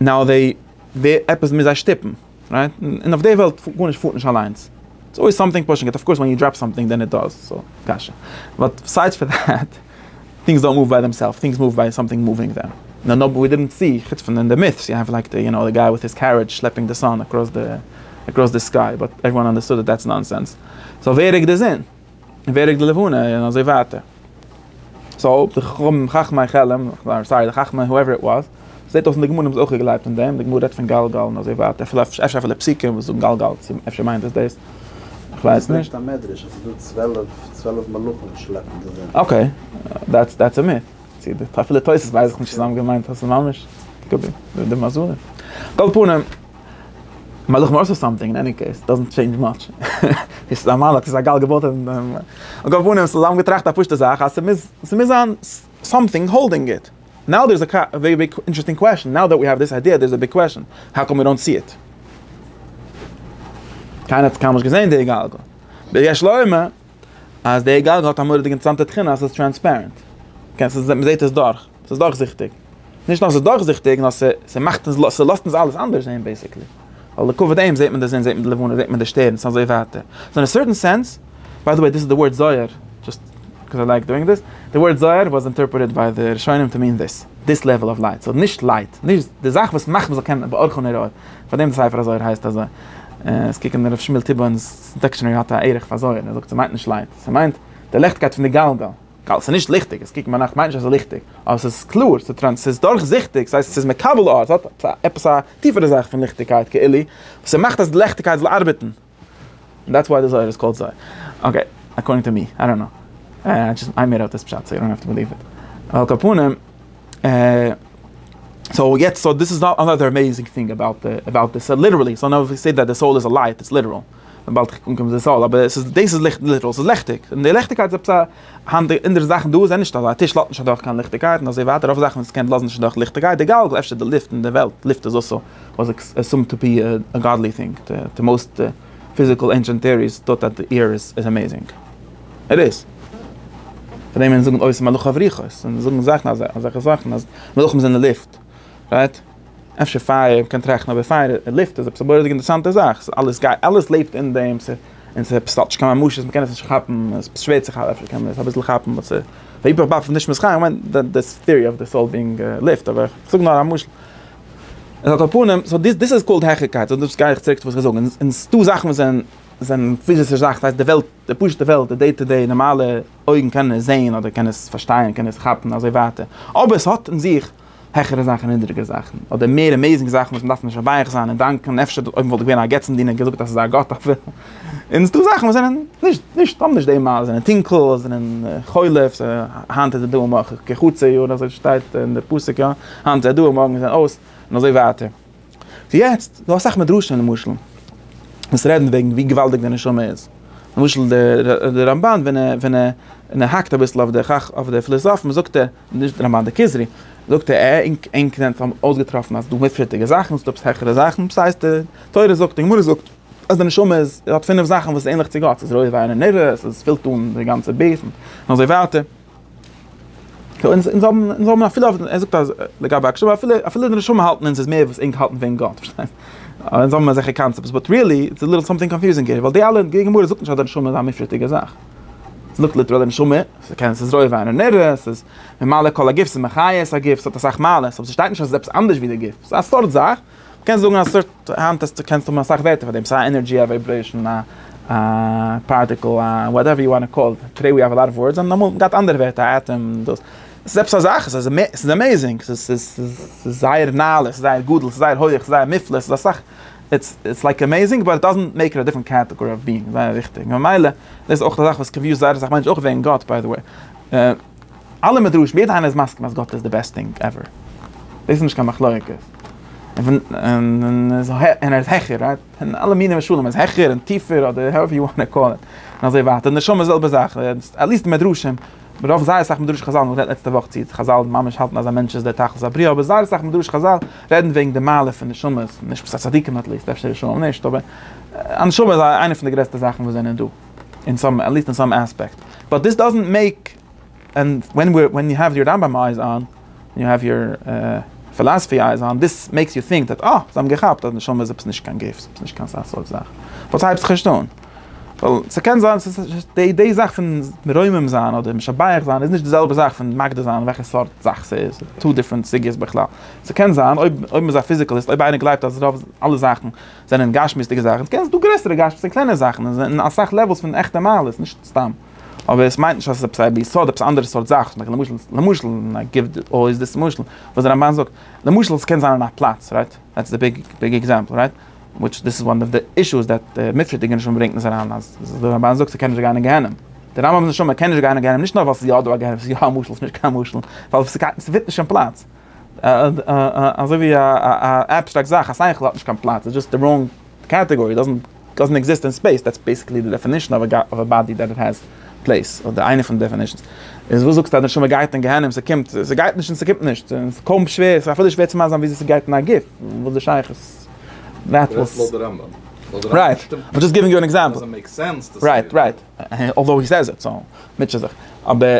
נאו וועי, ווער, עפעס מוז זיי שטופן, רייט? און אויף די וועלט גארנישט פארט נישט אליינס, איטס אלוועיס סאמטינג פושינג איט, אף קאורס ווען יו דראפ סאמטינג דען איט דאז, סאו, קשיא. באט ביסיידס פאר דעט, טינגס דאנט מאוו ביי דעמסעלפס, טינגס מאוו ביי סאמטינג מאווינג דעם. נאו נאו ווי דידנט סי, חוץ פון אין די מיט'ס יו העוו לייק די, יו נאו, די גיי וויט היז קערידזש שלעפינג די סאן אקראס די, אקראס די סקיי, באט עוועריוואן אנדערסטוד דעט דעטס נאנסענס. סאו ווער ריקט די זון? ווער איך די לבנה און אזוי ווייטער. סאו די חכמים חכמי חלם, סארי די חכמי הואעווער איט וואס, זעט אויס אין די גמרא האבן זיי אויך געגלייבט אין דעם, די גמרא רעדט פון גלגל און אזוי ווייטער, אפילו אפשר אפילו פסוקים וואס זאגן גלגל, אפשר מיינט עס דאס, איך ווייס נישט. עס ברענגט א מדרש אז ס'איז דא צוועלף, צוועלף מלאכים וואס שלעפן די זון. אקעי, דעטס דעטס א מיט, צו די אפילו תוס' ווייס איך נישט צו זיי האבן געמיינט אז ס'איז ממש קאפ די מזלות, על כל פנים. מלאך מארס אר סאמטינג, אין עני קעיס, דאזענט טשעינדזש מאטש, עס איז א מלאך, עס איז א גל געבויט אין דעם, על כל פנים, זיי האבן געטראכט א פשוטע זאך, אז ס'מוז, ס'מוז זיין סאמטינג האלדינג איט, נאו דער איז א ווערי ביג אינטערעסטינג קוועשאן, נאו דעט ווי העוו דיס איידיע דער איז א ביג קוועשאן, האו קאם ווי דאנט סי איט? קיינער האט קיינמאל נישט געזען די גלגל, דער יש לו אומר. אז די גלגל האט א מורא'דיגע אינטערעסאנטע תכונה אז ס'איז טרענספערענט. מ'זעט עס דורך. ס'איז דורכזיכטיג. נישט נאר ס'איז דורכזיכטיג, נאר ס'מאכט אונז, ס'לאזט אונז אלעס אנדערש זעהן בעיסיקלי. ווייל לכבוד דעם זעט מען די זון, זעט מען די לבנה, זעט מען די שטערנס, אזוי ווייטער. סאו אין א סערטען סענס, ביי די וועי דיס איז די ווארט זוהר, דזשאסט קאוז איי לייק דואינג דעס, די ווארט זוהר וואס אינטערפרעטעד ביי די ראשונים טו מין דעס, דעס לעוועל אוו לייט. סאו נישט לייט, נישט די זאך וואס מאכט מ'זאל קענען באורכן אור אור. פארדעם די ספר הזוהר הייסט אזוי. עס קוקן דער ר' שמואל טיבא'נס. דיקשענערי האט א ערך פאר זויער, ער זאגט ס'מיינט נישט לייט, ס'מיינט די ליכטקייט פון די גלגל. גל, ס'איז נישט ליכטיג, עס קוקן ביינאכט מיינט נישט אז ס'איז ליכטיג, אבער ס'איז קלאר, ס'איז ס'איז דורכזיכטיג, ס'הייסט ס'איז מקבל אור, ס'האט עפעס א טיפערע זאך פון ליכטיגקייט כאילו, וואס ס'מאכט אז די ליכטיגקייט זאל ארבעטן. און דעטס וואי די זויער איז קאלד זויער. אקעי, אקארדינג טו מי, איי דאנט קנאו. איי דזשאסט, איי מעיד אפ דיס פשט סאו יו דאנט האוו טו בעליוו איט. על כל פנים. סאו יעצט סאו דיס איז אנאדער עמעיזינג טינג אבאוט אבאוט דיס ליטערלי סאו נאו ווי סעיד דעט די סאול איז א לייט איטס ליטערל וויבאלד איך קום צו די סאול אבער עס איז דאס איז ליכט ליטערל ס'איז לעכטיג און די לעכטיגקייט איז עפעס א האנט אין די זאכן דא זענען נישט אזא א טיש לאזט נישט אדורך קיין ליכטיגקייט און אזוי ווייטער רוב זאכן וואס קען לאזן נישט אדורך ליכטיגקייט די גאלגל אפשר די לופט אין די וועלט לופט איז אלסא וואס איז עסומד טו בי א גאדלי טינג די מאוסט פיזיקל ענשענט טעאריס טוט אט די עיר איז עמעזינג איט איז פאר דעם ווען זאגן אויס מלאך אויף רוחות און זאגן זאכן אזוי אזעלכע זאכן אז מלאכים זענען לופט רייט אפשר פייער קען טראכטן אבער פייער און לופט איז עפעס א מורא'דיגע אינטערסאנטע זאך ס'איז אלעס גייט אלעס לעבט אין דעם ס'איז און ס'איז עפעס ס'האט נישט קיין ממשות מ'קען עס נישט כאפן עס איז שווער צו כאפן אפשר קען מען עס אביסל כאפן וואס איז היפך באפעס נישט מסכים כ'מיין די טיערי אויף די סאול בינג לופט אבער כ'זאג נאר א משל. און אט א פנים, סאו דיס איז קאלד העכערקייט, סאו דאס גיי איך צוריק צו וואס איך זאג, און און ס'דא זאכן וואס זענען זענען פיזישע זאכן, ס'הייסט די וועלט, די פשוט'ע וועלט, די דעי טו דעי, נארמאלע אויגן קענען עס זעהן, אדער קענען עס פארשטייען, קענען עס כאפן, אזוי ווייטער, אבער ס'האט אין זיך העכערע זאכן און נידריגערע זאכן, אדער מער עמעיזינג זאכן וואס מ'דארף משבח זיין און דאנקען, אפשר אויב מ'וואלט געווען א געצנדינער געזאגט אז ס'איז א גאט אפילו. און ס'איז דא זאכן וואס זענען נישט, נישט, האבן נישט די מ א, זענען טונקל, זענען חולף, היינט איז עס דא און מאך כחצי יאר, אזוי שטייט אין די פסוק יא, היינט איז עס דא און מארגן איז עס אויס, און אזוי ווייטער. סאו יעצט, ס'דא אסאך מדרשים למשל, וואס רעדן וועגן ווי געוואלדיג די נשמה איז. למשל די רמב ן ווען ער, ווען ער האקט אביסל אויף די חכ, אויף די פליזאפן זאגט ער, נישט רמב ן, די כוזרי, זאגט ער, אה, ענק, ענק זענען אויסגעטראפן אז ס'דא מופלג'דיגע זאכן, ס'דא עפעס העכערע זאכן, ס'הייסט די תורה זאגט, די גמרא זאגט. אז די נשמה איז האט פינף זאכן וואס איז ענליך צו גאט, ס'איז רויט וויין און נרות, ס'איז פילט אן די גאנצע בית'ן און אזוי ווייטער. אונז האבן אפילו ער זאגט אז לגבי הקשבה אפילו אפילו די נשמה האלטן אונז איז מער וואס ענק האלטן וועגן גאט, פארשטייסט? אונז האבן אזעלכע קאנצעפטס באט ריעלי איטס א ליטל סאמטינג קאנפיוזינג העיר, ווייל די אלע די גמרא זאגט נישט אז די נשמה איז א מופשט'דיגע זאך. ס'זאגט ליטעראל די נשמה, ס'קען ס'איז רויט וויין און נרות, ס'איז ממלא כל הגוף, ס'איז מחיה את הגוף, ס'האט אסאך מעלות, אבער ס'שטייט נישט אז ס'איז עפעס אנדערש ווי די גוף, ס'איז א סארט זאך. מ'קען זאגן א סארט, היינט האסטו, קענסטו האבן אסאך ווערטער פאר דעם, סיי ענערדזשי, א ווייברעישאן, א פארטיקל, א וואטעווער יו וואנט קאל איט, טודעי ווי האוו א לאט אוו ווארדס, און אמאל געהאט אנדערע ווערטער, א עטאם, דאס. עס איז עפעס א זאך, עס איז עס איז עמעיזינג, עס איז עס איז זייער נעלה, עס איז זייער גדול, עס איז זייער הויעך, עס איז זייער מופלא, עס איז אסאך, איטס איטס לייק עמעיזינג באט איט דאזענט מעיק איט א דיפרענט קעטעגארי אוו ביאינג, זייער וויכטיג, ממילא דאס איז אויך א זאך וואס קאנפיוזט זייער אסאך מענטשן, אויך וועגן גאט ביי די וועי. אלע מדרשים, יעדער איינער איז מסכים אז גאט איז די בעסט טינג עווער, דאס איז נישט קיין מחלוקת, און ער איז העכער, רייט, און אלע מיני משלים, ער איז העכער און טיפער אדער האועווער יו וואנט טו קאל איט, און אזוי ווייטער, און נשמה זעלבע זאך, עטליסט מדרשים, רוב זייער אסאך מדרשי חזל, מ'רעדט לעצטע וואך צו חזל ממש האלטן אז א מענטש איז דער תכלית הבריאה, אבער זייער אסאך מדרשי חזל רעדן וועגן די מעלה פון נשמות, נישט צדיקים עטליסט, אפשר רשעים נישט, אבער א נשמה איז איינע פון די גרעסטע זאכן וואס זענען דא. אין סאם עט ליסט אין סאם עספעקט באט דיס דאזענט מעיק ענד ווען וויר ווען יו העוו יור רמבם אייז אן און יו העוו יור פילאסעפי אייז אן דיס מעיקס יו טינק דעט אה זיי האבן געכאפט אז נשמה איז עפעס נישט קיין גוף עפעס נישט קיין סארט זאך וואס הייבט זיך נישט אן ווייל ס'קען זיין ס'איז די די זאך פון מרומם זיין אדער משבח זיין איז נישט די זעלבע זאך פון מגדיר זיין וועלכע סארט זאך ס'איז טא דיפרענט סוגיות בכלל ס'קען זיין אויב אויב מ'איז א פיזיקעליסט אויב איינער גלייבט אז רוב אלע זאכן. זענען גשמיות'דיגע זאכן, דו קענסט דא גרעסערע גשמיות'דיגע און קלענערע זאכן, און זענען אסאך לעוועלס פון עכטע מעלות, נישט סתם. אבער עס מיינט נישט אז עס איז עפעס א ביסוד, עפעס א אנדערע סארט זאך, למשל, למשל, למשל, און איי גיוו אלוועיס דיס משל, וואס דער רמבן זאגט, למשל, עס קען זיין אין א פלאץ, רייט? דעטס די ביג, ביג עקזעמפל, רייט? וויטש דיס איז וואן אוו די אישוס דעט דער מופשט'דיגער נשמה ברענגט אונז אריין, אז דער רמבן זאגט ס'קען נישט גיין אין גיהנום. דער רמבם'ס נשמה קען נישט גיין אין גיהנום נישט נאר ווייל ס'איז יא דא א גיהנום, ס'איז יא א משל, ס'איז נישט קיין משל, ווייל ס'פיט נישט אין פלאץ. אזוי ווי א עבסטראקט זאך, א שכל האט נישט קיין פלאץ, איז דזשאסט א ראנג קעטעגארי, דאזענט עקזיסט אין ספעיס, דעטס בעסיקלי די דעפענישן אויף א באדי דעט האס פלעיס, אדער איינע פון די דעפענישנס. איז וואס זאגסטו אז די נשמה גייט אין גיהנום, ס'קומט, ס'גייט נישט און ס'קומט נישט, ס'איז קוים שווער, ס'איז אפילו שווער צו מאסטערן וויאזוי ס'גייט אין א גוף, וואס איז די שייכות? דו רעדסט לויט די רמב ם. רייט, איים דזשאסט גיווינג יו אן עקזעמפל. דאזענט מעיק סענס. רייט, רייט, אלדאו הי סעיז איט, סאו, מוטשע זיך. אבער.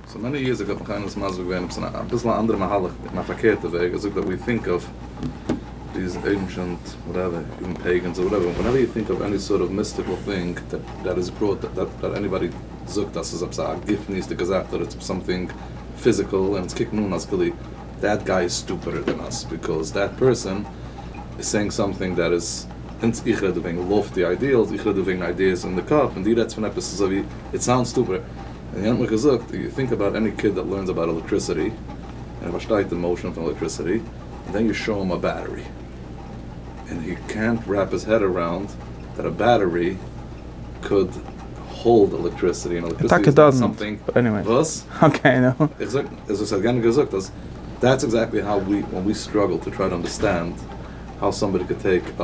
סאו מעני יערס עגאו האט מיך איינער דאס מסביר געווען עפעס אין אביסל א אנדערע מהלך אין א פארקערטע וועג ער זאגט ווען יו טינק אויף דיס ענשענט וואטעווער איווען פעיגענס אר וואטעווער ווענעווער יו טינק אויף עני סארט אוו מיסטיקעל טינג דעט איז בראט דעט עניבאדי זאגט אז ס'איז עפעס א גופניות'דיגע זאך אדער עפעס סאמטינג פיזיקעל און אונז קוקן אן אז כאילו דעט גיי איז סטופידער דען אס ביקאוז דעט פערסאן איז סעינג סאמטינג דעט איז אונז איך רעד דא וועגן לאפטי איידיעלס איך רעד דא וועגן איידיעס אין די קאפ און דו רעדסט פון עפעס ס'איז אזויווי איט סאונדס סטופידער. און ער האט מיך געזאגט, איף יו טינק אבאוט עני קיד דעט לערנס אבאוט עלעקטריסיטי, און ער פארשטייט די מאושען פון עלעקטריסיטי, און דען יו שאו הים א בעטערי, און הי קענט רעפ היז העד אראונד דעט א בעטערי קאוד האלד עלעקטריסיטי, און עלעקטריסיטי איז נאט סאמטינג וואס? איך זאג, איז וואס ער האט גענוג געזאגט אז דעטס עקזעקטלי האו ווי, ווען ווי סטראגל טו טריי טו אנדערסטענד האו סאמבאדי קען טעיק א.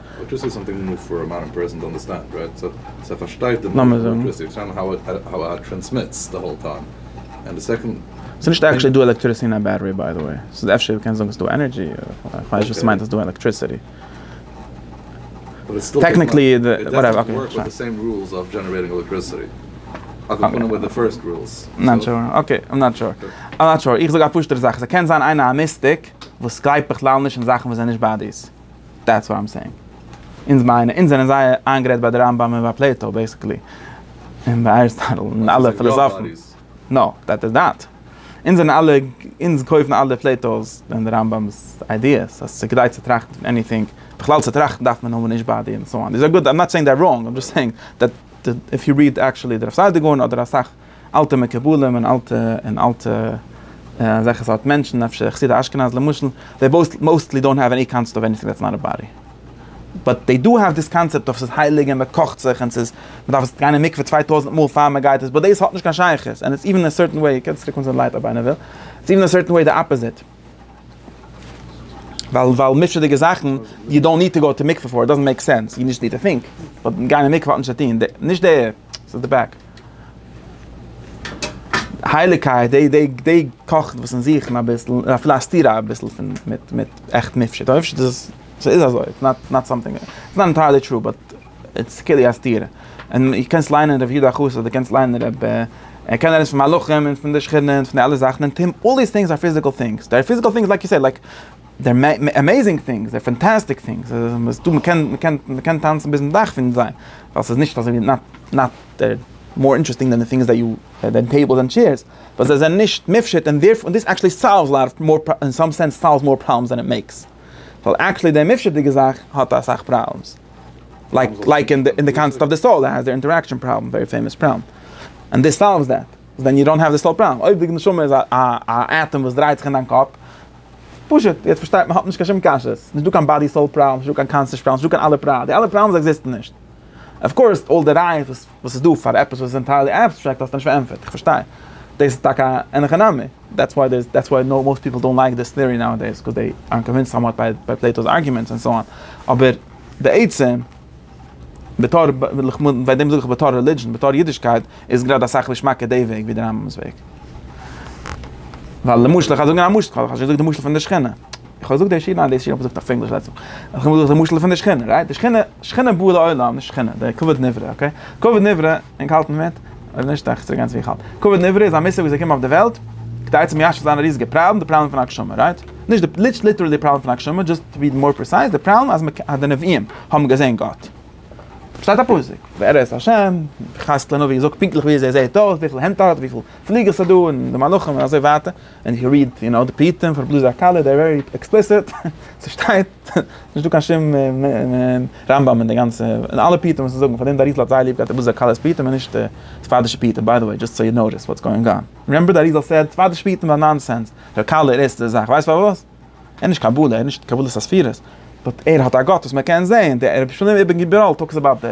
לאמיר זאגן. ס'נישט עקטשעלי דא עלעקטריסי אין א בעטערי ביי די וועי, ס'איז אפשר מ'קען זאגן ס'איז דא ענערדזשי, כ'ווייס נישט וואס ס'מיינט אז ס'איז דא עלעקטריסיטי. טעקניקלי איך זאג א פשוט'ער זאך, ס'קען זיין איינער א מיסטיק וואס גלייבט בכלל נישט אין זאכן וואס זענען נישט באדיס. דעטס וואט איים סעינג. אונז מיינען, אונז זענען זייער איינגערעדט ביי די רמב ם און ביי פלעיטאו בעיסיקלי. און ביי אריסטאטל און אלע פילאזאפן. נאו, דעט איז דעט. אונז זענען אלע, אונז קויפן אלע פלעיטאו'ס און די רמב ם'ס איידיעס אז ס'איז כדאי צו טראכטן פון עניטינג. בכלל צו טראכטן דארף מען האבן נישט באדי און סאו אן. די זאגסט גוט, איים נאט סעינג דעט ראנג, איים דזשאסט סעינג דעט איף יו ריעד עקטשעלי די רב סעדיגורן אדער אסאך אלטע מקובלים און אלטע און אלטע אזעלכע סארט מענטשן אפשר חסידי אשכנז למשל, זיי בויס מאוסטלי דאונט האוו עני קאנצעפט אוו עניטינג דעטס נאט א באדי. באט דעי דא האוו דיס קאנצעפט אוו ס'איז הייליג און מ'קאכט זיך און ס'איז מ'דארף עס גיין אין מקווה צוויי טויזנט מאל פאר מ'גייט עס באט דאס האט נישט קיין שייכות און איטס איווען אין א סערטען וועי, קענסט צוריקקומען צו די לייט אויב איינער וויל, איטס איווען אין א סערטען וועי די אפאזיט. ווייל ווייל מופשט'דיגע זאכן יו דאנט ניד טו גאו טו מקווה פאר איט דאזענט מעיק סענס יו דזשאסט ניד טו טינק באט גיין אין מקווה האט נישט צו טון די נישט די ס'איז די בעק הייליגקייט די די די קאכט וואס אונז זוכן אביסל אפילו א סתירה אביסל פון מיט מיט עכט מופשט אויב נישט איז עס ס'איז אזוי איטס נאט סאמטינג איטס נאט ענטייערלי טרו באט. איטס כאילו א סתירה. און דו קענסט ליינען ר' יודא חוסט אדער דו קענסט ליינען רב ער קען רעדען פון מלאכים און פון די שכינה און פון די אלע זאכען און טעם אלל דיס טינגס אר פיזיקעל טינגס דער פיזיקעל טינגס לייק יו סעיד לייק דער עמעזינג טינגס דער פאנטאסטיק טינגס איז דא מ'קען מ'קען מ'קען טאנצען ביזן דאך פון זיי ווייל ס'איז נישט אזוי ווי נאט מאר אינטערעסטינג דען די טינגס דעט יו דען טעיבלס און טשעירס ווייל זיי זענען נישט מופשט און דערפ און דיס עקטשעלי סאלווס לאט אוו מאר אין סאם סענס סאלווס מאר פראבלעמס דען איט מעיקס ווייל עקטשעלי די מופשט'דיגע זאך האט אסאך פראבלעמס. לייק לייק אין די קאנסעפט אוו די סאול דער הייסט די אינטעראקשען פראבלעם ווערי פעימאס פראבלעם און דיס סאלווס דעט ווען יו דאנט האוו די סאול פראבלעם אויב די נשמה איז א עטאם וואס דרייט זיך אין דיין קאפ פשוט יעצט פארשטייט מען האט נישט קיין שום קשיות נישט דא קיין באדי סאול פראבלעם נישט דא קיין קאנסעש פראבלעם נישט דא קיין אלע פראבלעם די אלע פראבלעמס עקזיסטן נישט אויף קאורס אל די רייעס וואס וואס איז דא פאר עפעס וואס איז ענטיירלי עבסטרעקט האסטו נישט פארענטפערט, איך פארשטיי דאס איז טאקע אן הכי נמי, דעטס וואי דעיס דעטס וואי נאו מאסט פיפל דאנט לייק דיס טעארי נאו דעיס קאז דעי אר קאנווינסד סאמוואט ביי ביי פלעיטא'ס ארגיומענטס ענד סאו אן, אבער די עצם בתור ביי דעם זאג איך בתור רעלידזשען בתור אידישקייט איז גראדע אסאך געשמאקער דעי וועג ווי די רמב ם'ס וועג, ווייל למשל איך האב זאגן א משל, כ'האב שוין געזאגט די משל פון די שכינה. איך האב געזאגט דער שיר, ניין דאס שיר האב איך געזאגט אויף ענגליש לעצטמאל, איך האב געזאגט די משל פון די שכינה, רייט? די שכינה, שכינה באה לעולם, נישט שכינה, די כבוד נברא, אקעי? כבוד נברא, ענק האלטן מיט? אויב נישט דארף איך צוריק גיין צו ווי איך האלט. כבוד נברא איז א מושג וואס איז געקומען אויף די וועלט כדי צו מיישב זיין א ריזיגע פראבלעם, די פראבלעם פון הגשמה, רייט? נישט די, נישט ליטערלי די פראבלעם פון הגשמה, דזשאסט טו בי מאר פריסייז, די פראבלעם אז מ'קע, אז די נביאים האבן געזען גאט. שטייט א פסוק, ווער איז השם, חז ל נביא זאגט פונקטליך וויאזוי ער זעט אויס, וויפיל הענט ער האט, וויפיל פליגלס ס'דא, און די מלאכים און אזוי ווייטער. ווען איך ריעד יו נאו די פרטים פון רבי לוזי הקלה דער ווערי עקספליסיט, ס'שטייט נישט דא קיין שום רמב ם אין די גאנצע, אין אלע פרטים וואס זיי זאגן, פארדעם די אריז ל האט זייער ליב געהאט רבי לוזי הקהל'ס פרטים און נישט ספרדישע פרטים, ביי די וועי דזשאסט סאו יו נאטיס וואטס גאוינג אן, רימעמבער די אריז ל סעד ספרדישע פרטים זענען נאנסענס, ר' קהל איז ערשטע זאך, ווייסט פארוואס? ער איז נישט קבלה, ער איז נישט קבלת הספירות, באט ער האט א גאט וואס מען קען זעהן, די רבי שלום אבן גבירול טאלקס אבאוט די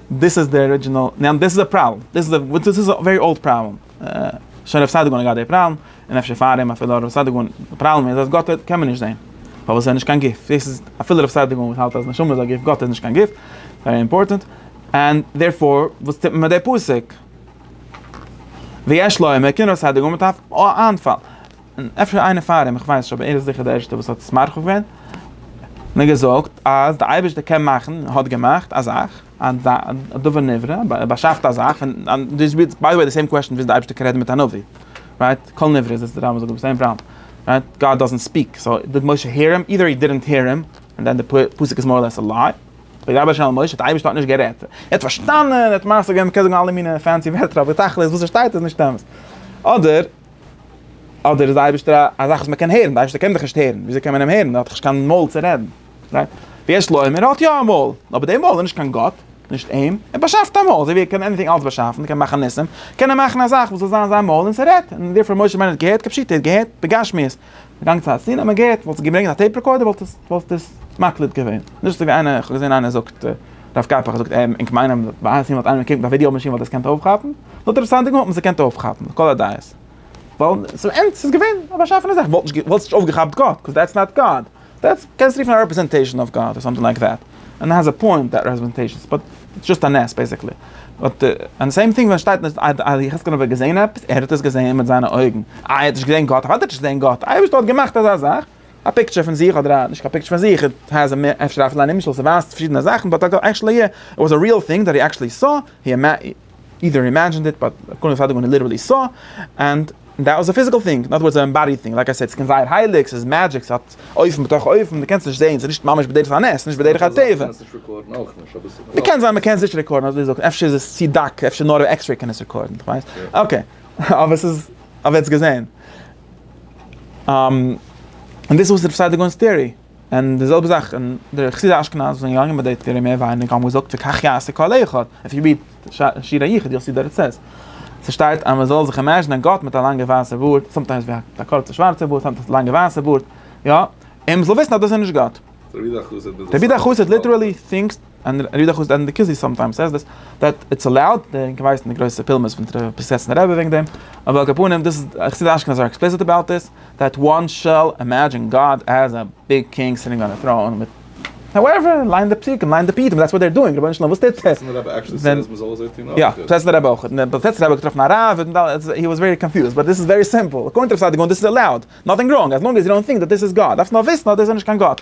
דאס איז די ארידזשינעל, ניין דאס איז א פראבלעם, דאס איז א וואס דאס איז א ווערי אולד פראבלעם, שוין רב סעדיגון האט געהאט די פראבלעם, און אפשר פאר אים אפילו רב סעדיגון, די פראבלעם איז אז גאט קען מען נישט זעהן, פארוואס ער איז נישט קיין גוף, דאס איז אפילו רב סעדיגון וואס האלט אז נשמה איז א גוף, גאט איז נישט קיין גוף, ווערי אימפארטענט, ענד דערפאר וואס טוט מען מיט די פסוק? ויש לו עמקין רב סעדיגון מ'דארף א איינפאל. און אפשר איינער פאר אים, איך ווייס נישט, אבער ער איז זיכער דער ערשטער וואס האט עס מרחיב געווען, און האט געזאגט אז דער אייבערשטער קען מאכן, האט געמאכט, א זאך, א דבר נברא, ער באשאפט א זאך, און דאס איז ביי די וועי די סעים קוועשאן ווי אזוי דער אייבערשטער קען רעדן מיט א נביא, רייט, כל נברא איז עס דער רמב ם זאגט דאס אין פרמ, רייט, גאד דאזענט ספיעק, סאו דיד משה העיר הים, אידער הי דידענט העיר הים, און דען די פסוק איז מאר לעס א ליי, וידבר השם אל משה, דער אייבערשטער האט נישט גערעדט, ער האט פארשטאנען, ער האט מעשה געווען, מען קען זאגן אלע מיני פענסי ווערטער אבער תכלית וואס ער שטייט איז נישט אמת, אדער. אדער איז די אייבערשטער א א זאך וואס מען קען הערן, די אייבערשטער קען דיך נישט הערן, ווי אזוי קען מען אים הערן, ער האט דאך נישט קיין מויל צו רעדן, רייט? ויש לו עמער האט יא א מויל, אבער די מויל איז נישט קיין גאט, נישט אים, ער באשאפט א מויל, אזוי ווי ער קען עניטינג אלץ באשאפן, קען מאכן ניסים, קען ער מאכן א זאך וואס זאל זיין זיין מויל און ס'רעדט, און דערפאר משה רבינו האט געהערט, כפשוטו ער האט געהערט בגשמיות. געגאנגען צו חתונה האט מען געהערט וואלסטו געברענגט א טעיפ רעקארדער וואלסטו עס מקליט געווען, נישט אזוי ווי איינער, איך האב געזען איינער זאגט הרב קאפח האט געזאגט ענק מיינען אז ביי חתונה וואלט איינער געקוקט ביי ווידיאו מאשין וואלט עס געקענט אויפכאפן, נאר דער סאנדינג האט מען עס געקענט אויפכאפן, לכל הדעות. ווייל, ס'איז אמת, ס'איז געווען א באשאפענע זאך, וואלסט נישט אויפגעכאפט גאט, קאז דעטס נאט גאד. דעטס קענסט רופן א רעפרעזענטעישן אויף גאט אר סאמטינג לייק דעט, ענד איט העז א פוינט דעט רעפרעזענטעישנס באט איטס זשאסט א נס בעסיקלי, באט ענד די סעים טינג ווען שטייט אז יחזקאל האט געזעהן עפעס, ער האט עס געזעהן מיט זיינע אויגן, איי ער האט נישט געזעהן גאט, אוודאי האט ער נישט געזעהן גאט, אייבערשטער האט געמאכט אזא זאך, א פיקטשער פון זיך אדער א נישט קיין פיקטשער פון זיך, איט העז א מער אפשר אפילו א נמשל ס'ווייזט פארשידענע זאכן באט עקשעלי איט וואס א ריעל טינג דעט הי עקשעלי סא, אידער הי אימעדזשינד איט באט קאנען ווי פאר דעם ווען הי ליטערלי סא ענד דעט וואס א פיזיקעל טינג נאט וואס אן עמבאדיד טינג לייק איי סעיד ס'קען זייער הייליג ס'איז מעדזשיק ס'האט אופן בתוך אופן די קענסט נישט זעהן ס'איז נישט ממש בדרך הנס ס'איז נישט בדרך הטבע די קען זיין מ'קען עס נישט רעקארדן אזוי זאגט אפשר איז עס צי דק אפשר נאר א עקסרעי קען עס רעקארדן כ'ווייס אקעי אבער ס'איז אבער עטס געזעהן און דאס איז וואס איז ר' סעדיגונ'ס טעארי. און די זעלבע זאך און די חסידי אשכנז וואס זענען געגאנגען ביי די תורה מער ווייניגער האבן געזאגט וכך יעשה כל אחד, איף יו ריעד שיר היחיד יו וויל סי די רעצעס ס'שטייט אז מ'זאל זיך אימעזשינען גאט מיט א לאנגע ווייסע בארד, סאמטיימס ווי א קורצע שווארצע בארד סאמטיימס א לאנגע ווייסע בארד, יא, און מ'זאל וויסן אז דאס איז נישט גאט. רבי דער חסיד ליטערלי טינקס און ער איז דאך אויס ענדע כוזי סאמטיימס סעיס דעס דעט איטס אלאוד, די אינגע ווייסן די גרויסע פולמוס פון די פריסעסנע רבי וועגן דעם, אבער על כל פנים דאס איז א חסידישע אשכנז אר עקספליסיט אבאוט דעס, דעט וואן שעל אימעדזשין גאד עז א ביג קינג סיטינג אן א טראון מיט האועווער, ליין די פסוקים, ליין די פרטים, דעטס וואט דער דואינג, רבונו של עולם וואס טוט ער? פריסעסנע רבי עקשלי סעיס מען זאל אזוי טון אויך? יא, פריסעסנע רבי אויך, און פריסעסנע רבי האט געטראפן א רב, און ד ה הי וואס ווערי קאנפיוזד, באט דעס איז ווערי סימפל, אקארדינג טו רבי סעדיגורן דעס איז אלאוד, נאטינג ראנג, אז לאנג עז יו דאנט טינק דעט דעס איז גאד, דארפסט נאר וויסן אז דעס איז נישט קיין גאט.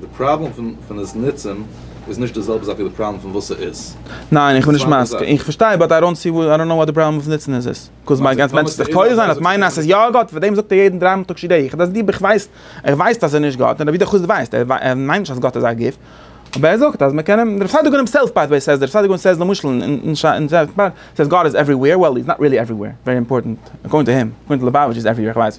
די פראבלעם פון עס נוצען איז נישט די זעלבע זאך ווי די פראבלעם פון וואס ס'איז. ניין איך בין נישט מסכים, איך פארשטיי באט איי דאנט סי וואט די פראבלעם פון נוצען איז עס. קוז מיין גאנץ מענטש זיך טועה זיין אז מיינען אז ס'איז יא גאט פאר דעם זאגט ער יעדן דריי מאל תקשיב דעי איך דאס די ביך ווייסט ער ווייסט אז ער נישט גאט און ווידער חוץ די ווייסט ער מיינט נישט אז גאט איז א גוף אבער ער זאגט אז מען קען אים דער פסאדו גאנעם סעלף ביי די וועי סעז דער פסאדו גאנעם סעז למשל אין סעז גאט איז עווערי וועיר וועל איז נאט ריעלי עווערי וועיר ווערי אימפארטענט אקארדינג טו הים אקארדינג טו לעבאוויטש איז עווערי וועיר איך ווייס.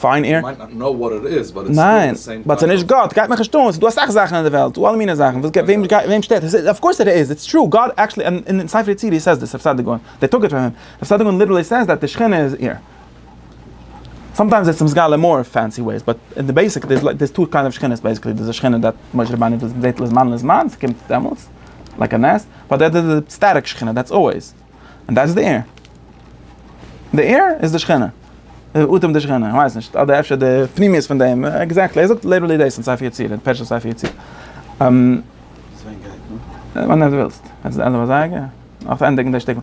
פיין איר מיינט נאט נאו וואט איט איז באט איטס סטיל די סעים קאנצעפט. ניין באט ס'נישט גאט גייט מיך נישט אן ס'דא אסאך זאכן אין די וועלט ס'דא אלע מיני זאכן וואס וועם גייט וועם שטערט עס אוו קאורס איט איז איטס טרו גאט עקטשעלי אין ספר יצירה הי סעיז דעס רב סעדיגורא דער טאגעט פאר אים רב סעדיגורא ליטערלי סעיז דעט די שכינה איז איר סאמטיימס איטס מסגלה אין מאר פענסי וועיס באט אין די בעיסיק דעיס דעיס טו קיינד אוו שכינות בעיסיקלי דעיס די שכינה דעט משה רבנו וויזיטעט לזמן לזמן ס'קומט דעמאלטס לייק א נס באט דעט איז די סטעטיק שכינה דעטס אלוועיס. און דאס איז די עיר. די עיר איז די שכינה. די אטעם די שכינה, איך ווייס נישט, אדער אפשר די פנימיות פון דעם, עקזעקטלי, ער זאגט ליטערלי דאס אין ספר יצירה, אין פרשת ספר יצירה. ווען דו ווילסט. יעצט די ענדע פון זייגער? נאך צו ענדיגן די שטיקל.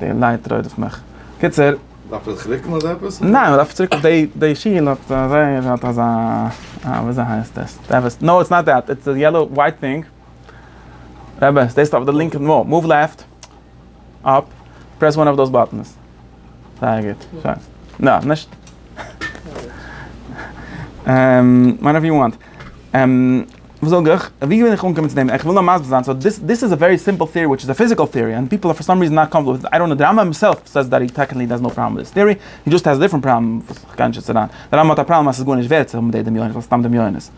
די לייט רודפ'ט מיך. קיצור. דארף איך זיך רוקן אדער עפעס? ניין, מען דארף צוריק אויף די, די שיל האט זייער, האט אזא, אה, וויאזוי הייסט עס? נאו, איטס נאט דעט, איטס די יעלאו ווייט טינג. רבי, סטעיסט אויף די לינקע נאר, מאוו לעפט, אפ, פרעס וואן אוו דאס באטענס. זייער גוט, שיין. נא, נישט. מאנאו יו וואנט. וואס זאג איך? ווי בין איך אנגעקומען צו דעם? איך וויל נאר מסביר זיין, סאו דיס דיס איז א ווערי סימפל טעארי וויטש איז א פיזיקעל טעארי און פיפל פאר סאם ריזען נאט קאמפארטעבל וויט איט, איי דאנט נאו, די רמב ם הימסעלף סעיס דעט הי טעקניקלי דאזנט האב פראבלעם וויט דיס טעארי, הי דזשאסט העז דיפרענט פראבלעם וואס איך גיי נישט יעצט אריין. די רמב ם האט א פראבלעם אז ס'איז גארנישט ווערט צו האבן די דמיון, סתם דמיונות.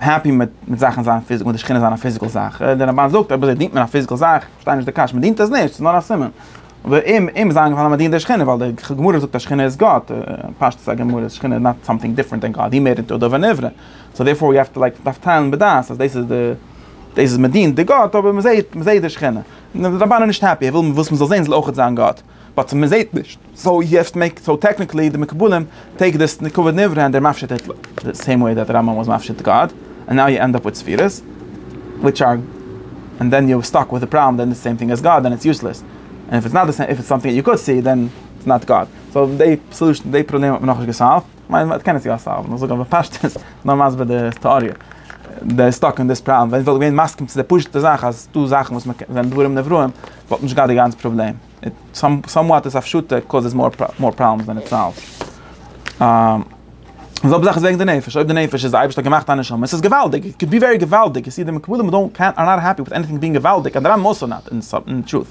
העפי מיט מיט זאכן זיין פיזיק מיט די שכינה זיין א פיזיקל זאך דער רמבן זאגט אויב אזוי דינט מען א פיזיקל זאך כ'פארשטיי נישט די קשיא מען דינט עס נישט ס'איז נאר א סימן ואם אם איז איינגעפאלן אז מען דינט די שכינה ווייל די גמרא זאגט אז שכינה איז גאט פשטות הגמרא אז שכינה איז נאט סאמטינג דיפרענט דען גאט היא מער ניטא דבר נברא סאו דערפאר ווי האוו טו לייק מ'דארף טיילן בדעת אז דאס איז די דאס איז מען דינט די גאט אבער מ'זעהט מ'זעהט די שכינה דער רמבן איז נישט העפי ער וויל וואס מ'זאל זעהן זאל אויכעט זיין גאט. באט מען זעהט נישט, סאו יו העוו טו מעיק, סאו טעקניקלי די מקובלים טעיק דיס נקבה נברא און דער מפשט איט די סעים וועי דעט רמב ם וואס מפשט גאד, און נאו יו ענד אפ וויט ספירות וויטש אר, און דען יו סטאק וויט די פראבלעם דען די סעים טינג עז גאד דען איטס יוסלעס, און איף איטס נאט די סעים, איף איטס סאמטינג יו קאד סי דען איטס נאט גאד, סאו די סעלושען, די פראבלעם האט מען נאכנישט געסאלווד, כ'מיין מען קען עס יא סאלוון, איך זאג אבער פשטות, נאר מסביר די טעאריע, דער איז סטאק אין דיס פראבלעם, ווען איך וואלט געווען מסכים צו די פשוטע זאך אז ס'דא זאכן וואס מ'קען, ווען דברים נבראים. וואלט נישט געהאט די גאנצע פראבלעם, סאמוואט איז הפשטה קאוזעס מאר פראבלעמס דען איט סאלווס. די זעלבע זאך איז וועגן די נפש, אויב די נפש איז די אייבערשטער האט געמאכט א נשמה, עס איז געוואלדיג, איט קען בי ווערי געוואלדיג, און סידי מקובלים אר דאונט קעיר אר נאט העפי וויט עניטינג בינג געוואלדיג, אדער א מאס אר נאט, אין טרוט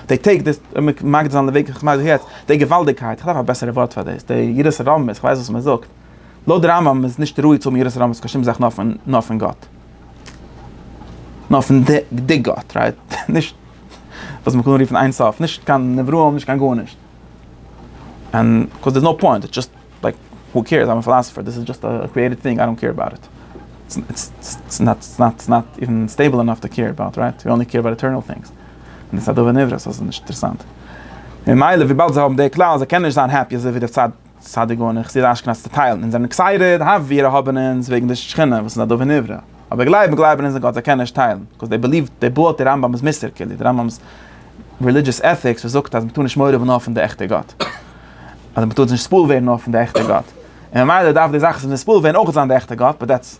די טעיק דיס, מגדיר זיין די וועג איך מיין זיך יעצט, די געוואלדיגקייט, איך דארף א בעסערע ווארט פאר דאס, די יראת הרמות, איך ווייס וואס מען זאגט, לויט די רמב ם איז נישט ראוי צו האבן יראת הרמות קיין שום זאך נאר פון גאט. נאר פון די גאט, רייט? נישט וואס מען קען רופן אין סוף, נישט קיין נבראים, נישט קיין גארנישט. און קאוז דער'ס נאו פוינט, איטס דזשאסט לייק הו קעירס, איי'ם א פילאסעפער, דאס איז דזשאסט א קריעיטעד טינג, איי דאנט קעיר אבאוט איט. איטס נאט איווען סטעיבל ענאף טו קעיר אבאוט, רייט? וויא אנלי קעיר אבאוט עטערנעל טינגס. און דאס איז א דבר נברא, סאו ס'איז נישט אינטערעסאנט. ממילא וויבאלד זיי האבן די כלל אז זיי קענען נישט זיין העפי אזויווי די צד סאדע גאון און חסיד אשכנז צעטיילן אונז זענען עקסייטעד האף ווי ער האבען אונז וועגן די שכינה וואס איז א דבר נברא אבער גלייבען גלייבען אונז אין גאט זיי קענען נישט טיילן בקאז דעי בעליוו דעי בועלט די רמב ם'ס מוסר כאילו די רמב ם'ס רעלידזשעס עטיקס וואס זאגט אז מ'טאר נישט מורא האבען נאר פון די עכטע גאט אדער מ'טאר זיך נישט ספול ווערן נאר פון די עכטע גאט און ממילא דארף די זאך וואס איז נספול ווערן אויך זיין די עכטע גאט באט דעטס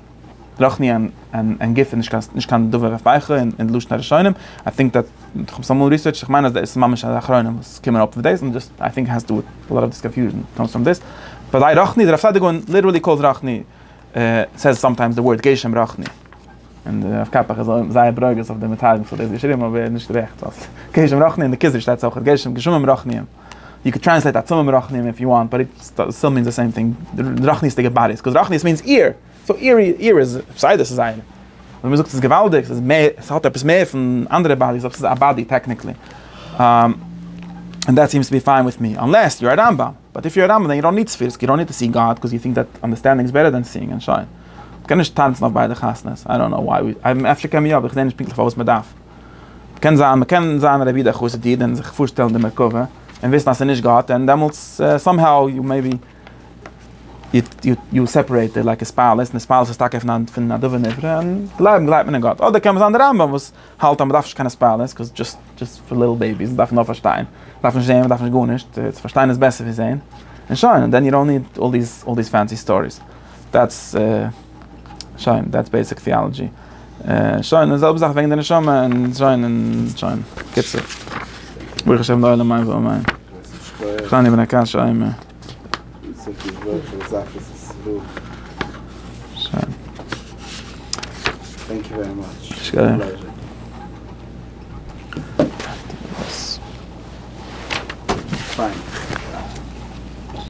רוחני און גוף איז נישט קיין דבר אויף בייכל אין לשון הראשונים, איי טינק דעט, איך האב עס אמאל ריסערטשט, איך מיין אז דאס איז ממש א אחרונים וואס קומען אויף מיט דאס, און דאס איי טינק העז טו דו וויט א לאט אוו דיס קאנפיוזשען קאמס פראם דאס, ביי זיי רוחני, דער רב סעדיגורא און ליטערלי קאלס רוחני, סעיז סאמטיימס די ווארד גשם רוחני, און דער רב קאפח איז זייער ברוגז אויף די מתרגמים וואס האט דאס געשריבן אבער ער האט נישט רעכט ווייל גשם רוחני אין די כוזרי שטייט אויך גשם גשמים רוחניים. יו קען טרענסלעיט עצמים מרחניים איף יו וואנט באט איט סטיל מיענס די סעים טינג, רחניות'דיגע באדיס, קאוז רחניות מיענס איר, סאו איר איר איז בסדר ס'איז זייער. און מ'זאגט ס'איז געוואלדיג ס'איז מער ס'האט עפעס מער פון אנדערע באדיס אויב ס'איז א באדי טעקניקלי. ענד דעט סיעמס טו בי פיין וויט מי אנלעס יו אר א רמב ם, באט איף יו אר א רמב ם דען יו דאנט ניד ספירס יו דאנט ניד טו סי גאד קאוז יו טינק דעט אנדערסטענדינג איז בעטער דען סיאינג און שוין. מ'קען נישט טאנצן אויף ביידע חתונות, איי דאנט קנאו וואי, אפשר קען מען יא אבער איך זעה נישט פונקטליך פארוואס מ'דארף. קען זיין מ'קען זיין רבי דער חסיד איד און זיך פארשטעלן די מרכבה און וויסן אז ס'איז נישט גאט און דעמאלטס סאם האו יו מעי בי יו סעפערעיטעד לייקע התפעלות און התפעלות איז טאקע פון א דבר נברא און גלייבן גלייבט מען אין גאט אדער קען זיין די רמב ם וואס האלט אז מ'דארף נישט קיין התפעלות קאוז דזשאסט דזשאסט פאר ליטל בעיביס מ'דארף נאר פארשטיין מ'דארף נישט זעהן מ'דארף נישט גארנישט צו פארשטיין איז בעסער ווי זעהן און שוין און דען יו דאנט ניד אלל דיס אלל דיס פענסי סטאריס דעטס. שוין, דעטס בעיסיק טיאלעדזשי. שוין, די זעלבע זאך וועגן די נשמה און שוין און שוין. קיצור. ברוך השם לעולם מי ואו מי. כ'שטיי נעבן א קש עימער. שוין. שכוח.